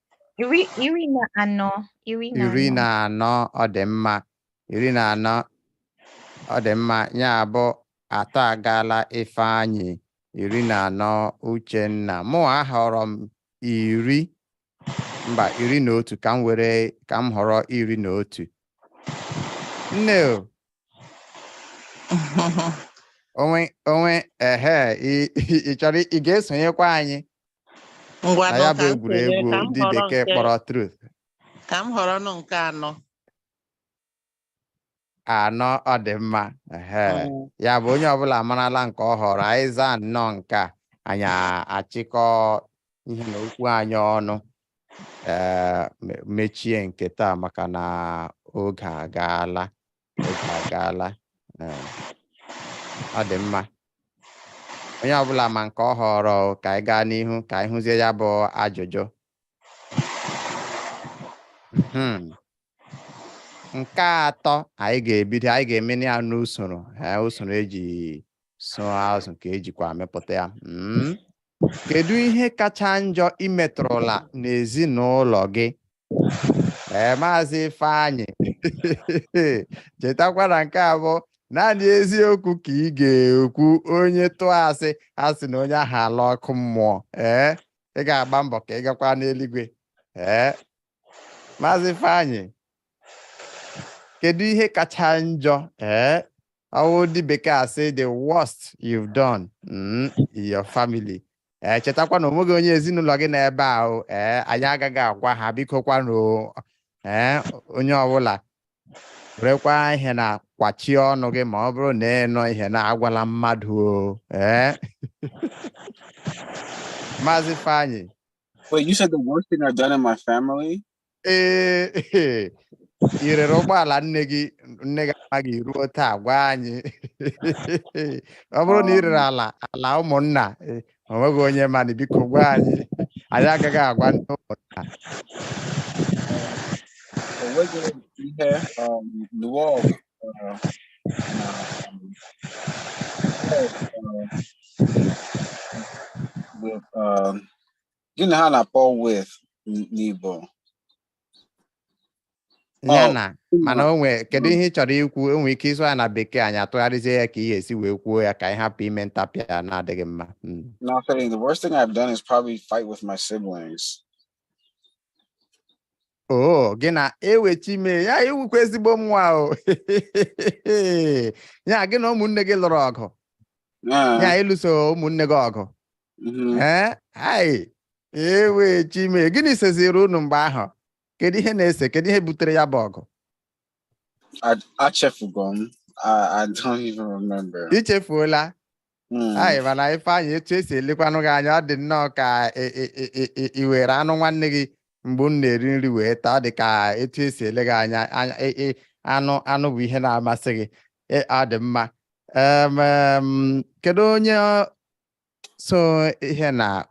A: Iri, iri na anọ. Iri na iri anọ. na anọ ọ dị mma iri na anọ ọ dị mma ya bụ atọ agaala ifeanyị iri na anọ uchenna mụ ahọrọ m iri mba iri na otu ka m were ka m họrọ iri na otu nne o, onwe onwe ehe ị- ị ị chọrọ ị ga-esonyekwa anyị na ya bụ egwuregwu ndị bekee kpọrọ truth ka m họrọ
C: nụ nke anọ
A: anọ ọ dị mma mm. ya bụ onye ọbụla amarala nke ọ họrọ anyị zaa nnọọ nke a anyị achịkọ ihe na okwu anyị ọnụ ee eh, mechie nke taa maka na oge agaala oge agaala Ee. ọ dị mma onye ọbụla ma nke ọ họrọ o, ka anyị gaa n'ihu ka anyị hụzie ya bụ ajụjụ Hmm. nke atọ anyị ga-ebido anyị ga-eme ya n'usoro ee, usoro eji sụọ azụ ka ejikwa amịpụta ya Mm. kedu ihe kacha njọ i metụrụla n'ezinụlọ gị ee maazị Ifeanyị chetakwa na nke a bụ naanị eziokwu ka ị ga-ekwu onye tụọ asị ha sị na onye ahụ alaa ọkụ mmụọ ee ị ga-agba mbọ ka ị gakwa n'eluigwe ee maazị Ifeanyị kedu ihe kacha njọ ee ọ wụ ndị bekee asị the worst you've done mm, in your family ee chetakwa na onweghị onye ezinụlọ gị n'ebe a o ee anyị agaghị agwa ha biko kwanụ o. ee onye ọbụla werekwa ihe na kwachie ọnụ gị ma ọ bụrụ na ị nụ ihe na agwala mmadụ o ee maazị Ifeanyị Wait, you said
B: the worst thing I've done in my family? ee
A: i rere ụgbọala nne gị nne gị amaghị ruo taa gwa anyị ọ bụrụ na ị rere ala ala ụmụnna eh, o nweghị onye mana biko gwa anyị anyị agaghị agwa ndị ụmụnna o nweghị
B: ihe um, lụọ ọgụ uh, na um, uh, with, um, gịnị ha na-akpọ
A: with n- n'Igbo ya Ọ, na mana o nwee kedu ihe ị chọrọ ikwu ị nwee ike ịsụ ya na bekee anyị atụgharịzie ya ka ị ga-esi wee kwuo ya ka anyị hapụ ime ntapịa na-adịghị mma Mm. nothing. The
B: worst thing I've done is probably fight with my
A: siblings. oo gị na ewe chi m e ya ị wụkwa ezigbo nwa o ya gị na ụmụnne gị lụrụ ọgụ ya Yeah, ịlụso ụmụnne gị ọgụ mm-hmm. eh? hai ewe chi m e gịnị seziri unu mgbe ahụ kedu ihe na-ese kedu ihe butere ya bụ ọgụ achefugo
B: m I don't even remember. ichefuola
A: hmm. hai mana Ifeanyị etu esi elekwanụ gị anya ọ dị nnọọ ka ị were anụ nwanne gị mgbe unu na-eri nri wee taa ọ dị ka etu esi ele gị anya anụ bụ ihe na-amasị gị ọ dị mma kedu onye so ihe na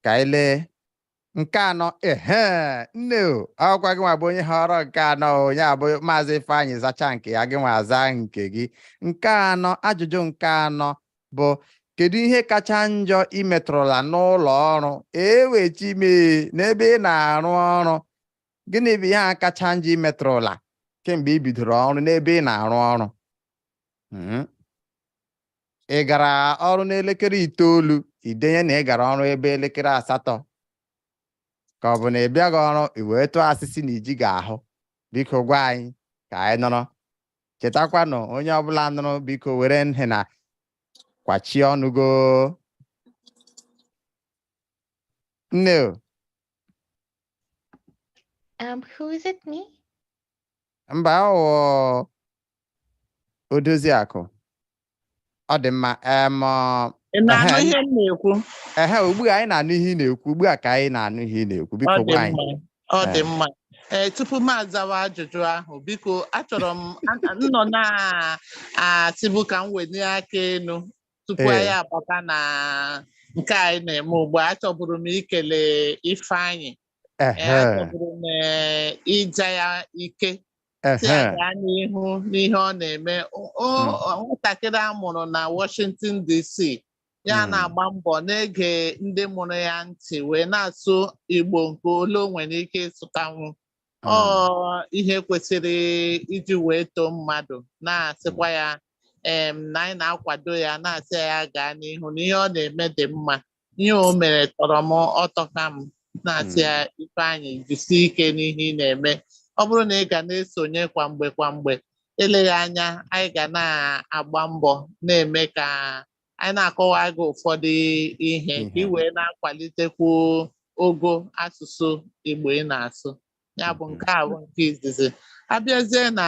A: ka anyị lee nke anọ ehe nne o ọkwa gị nwa bụ onye họrọ nke anọ ọ ya bụ Maazị Ifeanyị zacha nke ya gị nwa aza nke gị nke anọ ajụjụ nke anọ bụ kedu ihe kacha njọ ị metụrụla n'ụlọ ọrụ ewe chi m e n'ebe ị na-arụ ọrụ gịnị bụ ihe a kacha njọ ị metụrụla kemgbe ị bidoro ọrụ n'ebe ị na-arụ ọrụ Mhm. ị gara ọrụ n'elekere itoolu i denye na ị gara ọrụ ebe elekere asatọ ka ọ bụ na ị bịaghị ọrụ i wee tụọ asị sị na ị jighị ahụ biko gwa anyị ka anyị nụrụ chetakwanụ onye ọbụla nụrụ biko were nhị na kwachie ọnụ gị o nne o, Um,
D: who is it? Me?
A: mba ọ wụ Odoziakụ. Ọ dị mma. Em, ọ,
C: Ị na-anụ Ehe. ihe m na-ekwu? ehe, ugbu a
A: anyị na-anụ ihe ị na-ekwu. Ugbu a ka anyị na-anụ ihe ị na-ekwu. Ọ Biko dị gwa anyị. mma. Ọ dị Ee. mma.
C: Ee, tupu m azawa ajụjụ ahụ, biko achọrọ m a- m nọ na-asịbu ka m wenie aka enu tupu Ee. anyị abata na nke anyị na-eme ugbu a. Achọburu m ikele Ifeanyị. Ee, Ehe. achọburu m ee, ịja ya ike sị ya Ehe. gaa n'ihu n'ihe ọ na-eme O- o- Mm. o- nwatakịrị a mụrụ na Washington DC ya Mm. na-agba mbọ na-ege ndị mụrụ ya ntị wee na-asụ Igbo nke ole o nwere ike ịsụtanwu ọ Ah, ihe kwesịrị iji wee too mmadụ na-asịkwa ya em, na anyị na-akwado ya na-asị ya gaa n'ihu na ihe ọ na-eme dị mma Ihe o mere tọrọ m ụtọ ka m na-asị ya Ifeanyị jisie ike n'ihe ị na-eme. Ọ bụrụ na ị ga na-esonye kwa mgbe kwa mgbe, eleghị anya anyị ga na-agba mbọ na-eme ka anyị na-akọwa gị ụfọdụ ihe ka ị Ihe. wee na-akwalitekwu ogo asụsụ Igbo ị na-asụ. Ya bụ nke a bụ nke izizi. A bịazie na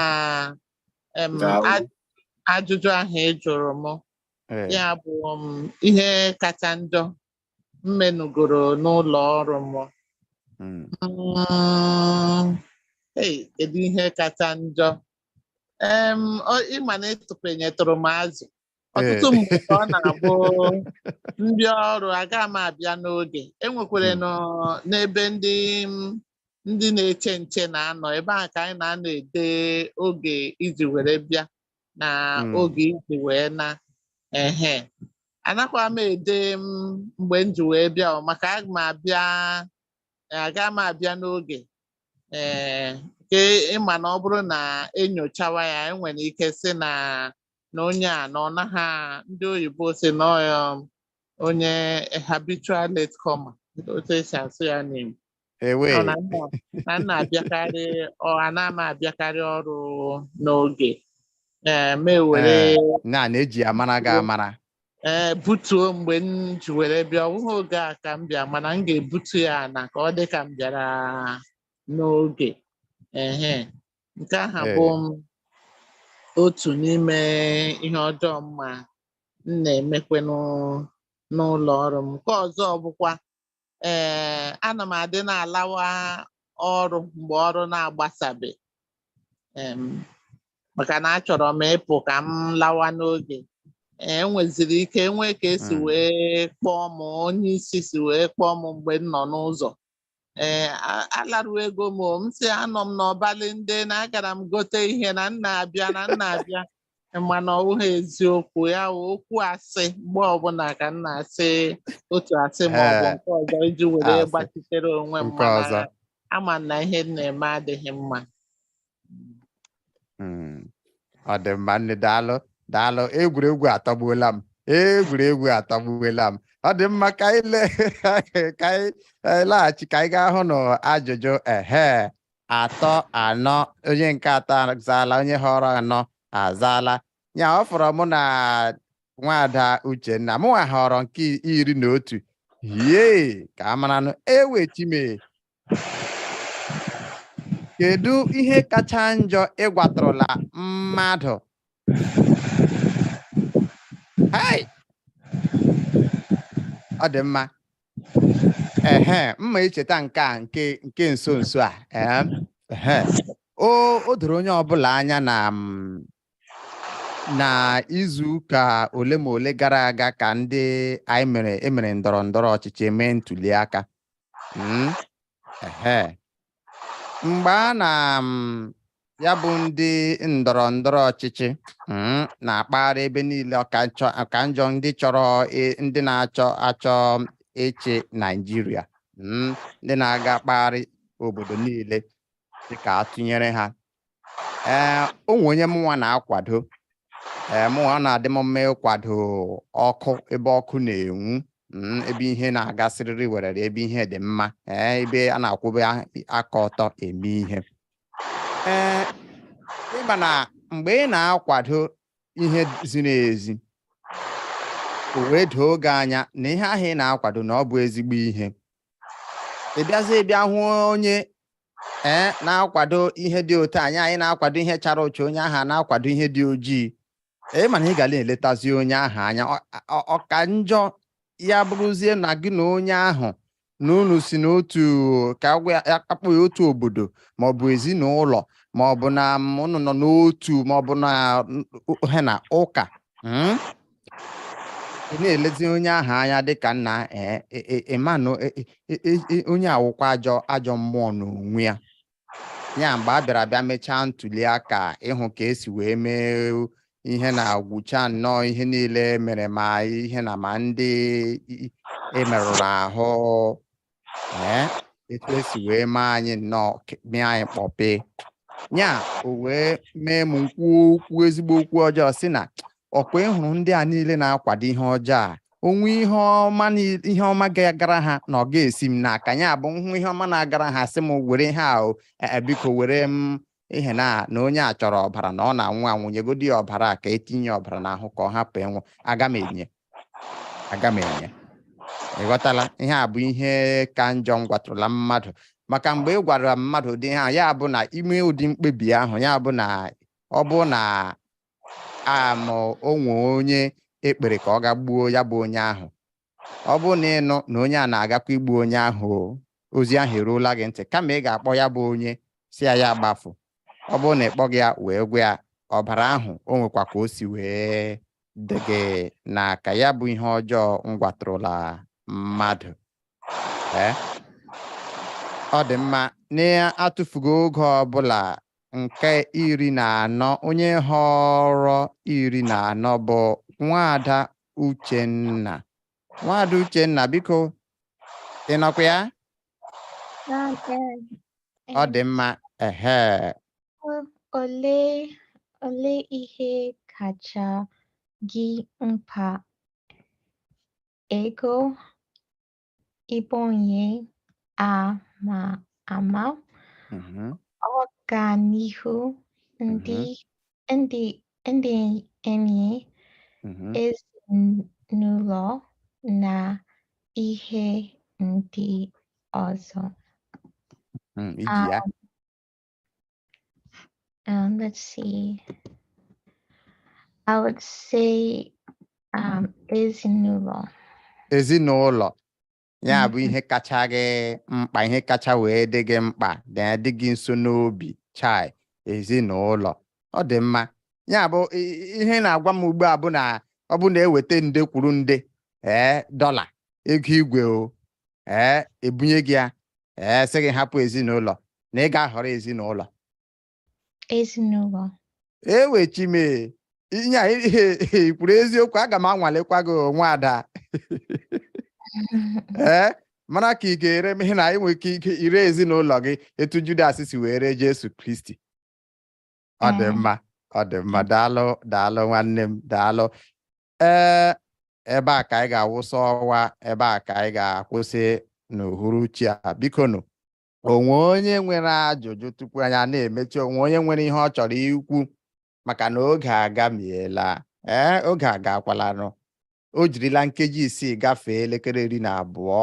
C: em, Daalụ. aj- ajụjụ ahụ ị jụrụ m. Ee. ya bụ um, ihe kacha njọ m menugoro n'ụlọ ọrụ m Mm. Mm, ei, kedu ihe kacha njọ Em, ọ- ị ma na ịtụpenyetụrụ m azụ ọtụtụ Ee. mgbe ka ọ na-abụ ndị ọrụ aga m abịa n'oge e nwekwara Mm. nọ- n'ebe ndị m- ndị na-eche nche na-anọ ebe ahụ ka anyị na-anọ ede oge i ji were bịa na hmm. oge iji wee na ehe anakwa m ede mgbe m ji wee bịa maka aga m abịa aga m abịa n'oge ee nke ị ma na ọ bụrụ na e nyochawa ya e nwere ike sị na na onye a na ọ naghị ndị oyibo sị na onye habitual late comer otu e si asụ ya n'Igbo Ewee. Ọ na m na na m na-abịakarị ọ ana m abịakarị ọrụ n'oge ee m ewere Ee, na na-eji
A: amara gị amara ee butuo
C: mgbe m ji were bịa ọ bụghị oge a ka m bịa mana m ga-ebutu ya na ka ọ dị ka m bịara n'oge ehe nke aha Ee. bụ otu n'ime ihe ọjọọ m ma m na-emekwenụ n'ụlọ ọrụ m nke ọzọ bụkwa ee ana m adị na-alawa ọrụ mgbe ọrụ na-agbasabe em, maka na achọrọ m ịpụ ka m lawa n'oge ee e nweziri ike e nwee ka e si Mm. wee kpọọ m onye isi si wee kpọọ m mgbe m nọ n'ụzọ ee a- alaruogo m o, m sị anọ m n'ọbalị ndị na agara m gote ihe na m na-abịa na m na-abịa mana ọ bụghị eziokwu ya wụ okwu asị mgbe ọbụla ka m na-asị otu asị ma ọ bụ Ee, nke ọzọ iji were asị. gbachitere onwe m Nke mana ọzọ. ama m na ihe m na-eme adịghị mma Mm.
A: ọ dị mma nne daalụ daalụ egwuregwu atọgbuola m egwuregwu atọgbuola m ọ dị mma ka anyị le- ka anyị anyị laghachi ka anyị gaa hụ na ajụjụ ehe atọ anọ onye nke atọ azaala onye họrọ anọ azaala ya ọ fọrọ mụ na nwada uchenna mụnwa họrọ nke iri na otu hie ka a maranụ ewe chime kedu ihe kacha njọ ị gwatụrụla mmadụ Hai! ọ dị mma ehe mma icheta nke a nke nke nso nso a ee ehe o o doro onye ọbụla anya na mm, na izu ụka ole ma ole gara aga ka ndị anyị mere emere ndọrọ ndọrọ ọchịchị mee ntuli aka Mm, ehe mgbe a na um, ya bụ ndị ndọrọ ndọrọ ọchịchị um, na-akpagharị ebe niile ọ ka nchọ- ọ ka njọ ndị chọrọ i- ndị na-achọ achọ ịchị Naịjirịa um, ndị na-aga kpagharị obodo niile sị ka a tụnyere ha ee o nwe onye mụnwa na-akwado ee mụnwa ọ na-adị m mma ịkwado ọkụ ebe ọkụ na-enwu mm, ebe ihe na-aga siriri werere ebe ihe dị mma ee ebe a na-akwụbe a- aka ọtọ eme ihe ee ị ma na mgbe ị na-akwado ihe ziri ezi o wee doo gị anya na ihe ahụ ị na-akwado na ọ bụ ezigbo ihe ị bịazie bịa hụ onye ee na-akwado ihe dị otu anyị anyị na-akwado ihe chara ụcha onye ahụ na-akwado ihe dị ojii ee mana ị ga na-eletazi onye ahụ anya ọ ka njọ ya bụrụzie na gị na onye ahụ na unu si n'otu ka a kpọ ya otu obodo maọbụ ezinụlọ maọbụ na unu nọ n'otu maọbụ na ihe na ụka hmm? ị na-elezi onye ahụ anya dịka nna ee e- e- ị manụ e- e- e- e- e- onye a wụkwa ajọ ajọ mmụọ n'onwe ya ya mgbe a bịara bịa mechaa ntuli aka ị hụ ka esi wee mee ihe na-agwụcha nnọọ ihe niile mere ma ihe na ma ndị i- emerụrụ ahụ ee etu esi wee mee anyị nnọọ ke- mee anyị kpọpe ya o wee mee m m kwuo okwu ezigbo okwu ọjọọ sị na ọ kwa ị hụrụ ndị a niile na-akwado ihe ọjọọ a o nwee ihe ọma ni- ihe ọma ga-agara ha na ọ ga-esi m n'aka ya bụ m hụ ihe ọma na-agara ha sị m were ihe a o, eh, eh, biko were m ihe na na onye a chọrọ ọbara na ọ na-anwụ anwụ nyegodi ya ọbara a ka e tinye ọbara n'ahụ ka ọ hapụ ịnwụ aga m enye aga m enye ị ghọtala ihe a bụ ihe ka njọ m gwatụrụla mmadụ maka mgbe ị gwara mmadụ ụdị ihe a ya bụ na i mee ụdị mkpebi ahụ ya bụ na ọ bụrụ na am o nwe onye e kpere ka ọ ga gbuo ya bụ onye ahụ ọ bụrụ na ị nụ na onye a na-agakwa igbu onye ahụ ozi ahụ eruola gị ntị kama ị ga-akpọ ya bụ onye sị ya ya gbafu ọ bụrụ na ị kpọghị ya wee gwa ya ọbara ahụ o nwekwa ka o si wee dị gị n'aka ya bụ ihe ọjọọ m gwatụrụla mmadụ eh? ọ dị mma na-atụfughị oge ọbụla nke iri na anọ onye họrọ iri na anọ bụ nwaada Uchenna. Nwaada Uchenna, biko, ị nọkwa ya? Ọ dị mma. Ehe.
D: Olee olee ihe kacha gị mkpa? Ego, ịbụ onye ama ama mm-hmm. ọganihu ndị mm-hmm. ndị ndị enyi mm-hmm. ezinụlọ na ihe ndị ọzọ. Mm, iji ya. Um, let's see. I would say um, ezinụlọ. Ezinụlọ.
A: Ya bụ ihe kacha gị mkpa, ihe kacha wee dị gị mkpa, na-adị gị nso n'obi, chai, ezinụlọ. Ọ dị mma. Ya bụ ihe ị na-agwa m ugbu a bụ na ọ bụrụ na e weta nde kwuru nde ee dọla ego igwe o ee ebunye gị ya ee sị gị hapụ ezinụlọ na ị ga-ahọrọ ezinụlọ ezinụlọ ewe chi m e ihe a ị kwuru eziokwu aga m anwalekwa gị nwaada ee mara ka ị ga-ere m ihi na ị nwere ike ire ezinụlọ gị etu Judas si wee ree Jesu Kristi ọ dị mm. mma ọ dị mma mm. daalụ daalụ nwanne m daalụ ee ebe a ka anyị ga-awụsa ọwa ebe a ka anyị ga-akwụsị n'uhuruchi a biko nụ o nwe onye nwere ajụjụ tupu anyị na-emechi o nwe onye nwere ihe ọ chọrọ ikwu maka na oge agamiela ee oge agakwalanụ o jirila nkeji isii gafee elekere iri na abụọ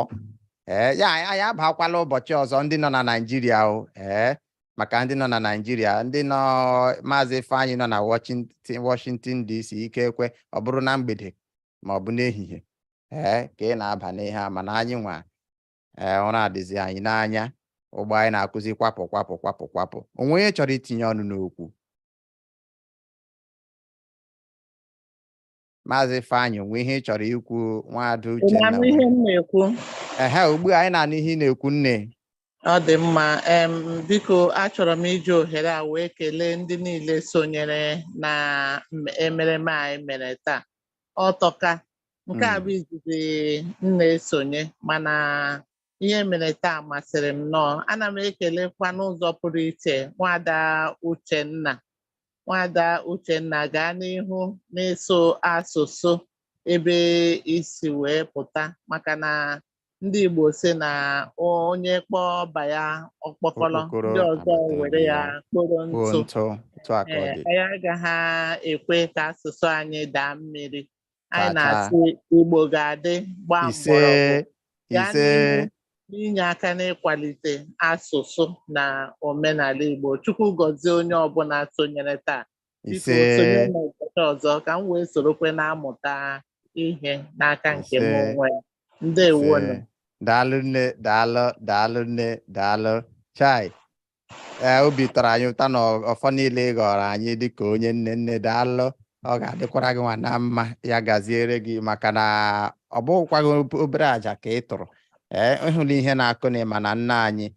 A: ee ya anyị abakwala ụbọchị ọzọ ndị nọ na Naịjirịa o ee maka ndị nọ na Naịjirịa ndị nọ maazị Ifeanyị nọ na Washington DC ikekwe ọ bụrụ na mgbede ma ọ bụ n'ehihie ee ka ị na-aba n'ihe a mana anyị nwa ee ụra adịzi anyị n'anya ụgbọ anyị na-akụzi kwapụ kwapụ kwapụ kwapụ o nwe onye chọrọ itinye ọnụ n'okwu maazị Ifeanyị o nwe ihe ị chọrọ ikwu nwaada Uchenna ihe m na-ekwu ehe ugbu a anyị na-anụ ihe ị na-ekwu nne ọ dị
C: mma em biko achọrọ m iji ohere a wee kelee ndị niile sonyere na emereme anyị mere taa ọ tọka nke a bụ hmm. izizi m na-esonye mana ihe mere taa masịrị m nnọọ ana m ekelekwa n'ụzọ pụrụ iche nwaada Uchenna nwaada Uchenna gaa n'ihu n'ịsụ asụsụ ebe i si wee pụta maka na ndị Igbo sị na onye kpọọ ọba ya ọkpọkọrọ ndị ọzọ were ya
A: kporo
C: ntụ
A: anyị agaghị
C: ekwe ka asụsụ anyị daa mmiri anyị Tata. na-asị
A: Igbo
C: ga-adị gbaa mgbọrọgwụ ise gaa ise n'ihu n'inye
A: aka
C: n'ịkwalite asụsụ na omenala Igbo Chukwu gọzie onye ọbụla sonyere taa biko ise sonye n'ụbọchị ọzọ
A: ka m
C: wee sorokwe na-amụta ihe n'aka nke m Ise. onwe m.
A: ndewonu
C: ise daalụ
A: nne daalụ daalụ nne daalụ chai ee obi tọrọ anyị ụtọ na ọfọ niile ị gọrọ anyị dịka onye nne nne daalụ ọ ga-adịkwara gị nwa na mma ya gaziere gị maka na ọ bụghịkwa gị ob- obere aja ka ị tụrụ ee ịhụla ihe na-akụ na ịma na nne anyị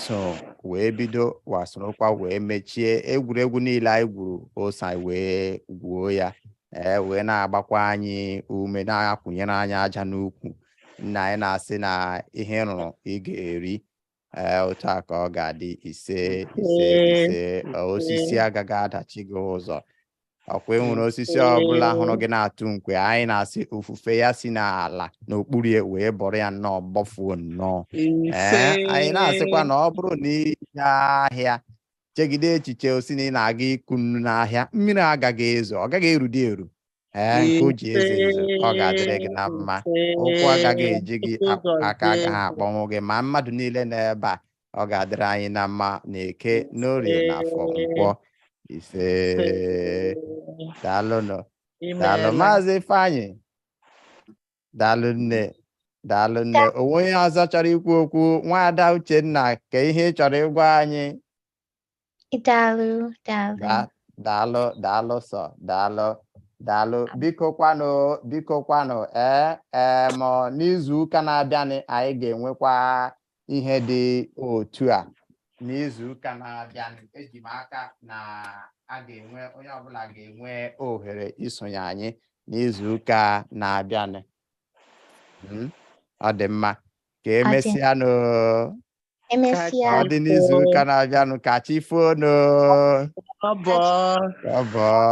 A: so wee bido wee sorokwa wee mechie egwuregwu niile anyị gwuru o so anyị wee gwuo ya ee wee na-agbakwa anyị ume na-akwụnyere anyị aja n'ukwu nne anyị na-asị na ihe ị rụrụ ị ga-eri ee otu a ka ọ ga-adị ise ise Ee, ise ee, osisi agaghị adachi gị ụzọ ọkwa enwere osisi ọbụla hụrụ gị na-atụ nkwe anyị na-asị ifufe ya si n'ala n'okpuru ya wee bọrọ ya nnọọ gbọfuo nnọọ ee anyị na-asịkwa na ọ bụrụ na ị gaa ahịa chegide echiche o si na ị na-aga ịkụ nnu n'ahịa mmiri agaghị ezo ọ gaghị erudị eru ee nke o ji ezo ezo ọ ga-adịrị gị na mma ụkwụ agaghị eji gị a- aka agaghị akpọnwụ gị ma mmadụ niile nọ ebe a ọ ga-adịrị anyị na mma na eke n'orie na afọ nkwọ ise daalụnụ daalụ maazị ifeanyị daalụ nne daalụ nne o nwe onye ọzọ chọrọ ikwu okwu nwaada uchenna ka ihe ị chọrọ ịgwa anyị
D: Daalụ, daalụ. Da-
A: daalụ daalụ sọ daalụ daalụ biko kwanụ biko kwanụ ee ee ma n'izu ụka na-abịanị anyị ga-enwekwa ihe dị otu a n'izu ụka na-abịanị eji m aka na a ga-enwe onye ọbụla ga-enwe ohere isonye anyị n'izu ụka na-abịanị Mm, ọ dị mma ka emesịanụ Emesịa. ọ dị n'izu ụka na-abịanụ ka chi
C: foonụ
A: Ọ bụ.
C: ọ
A: bụ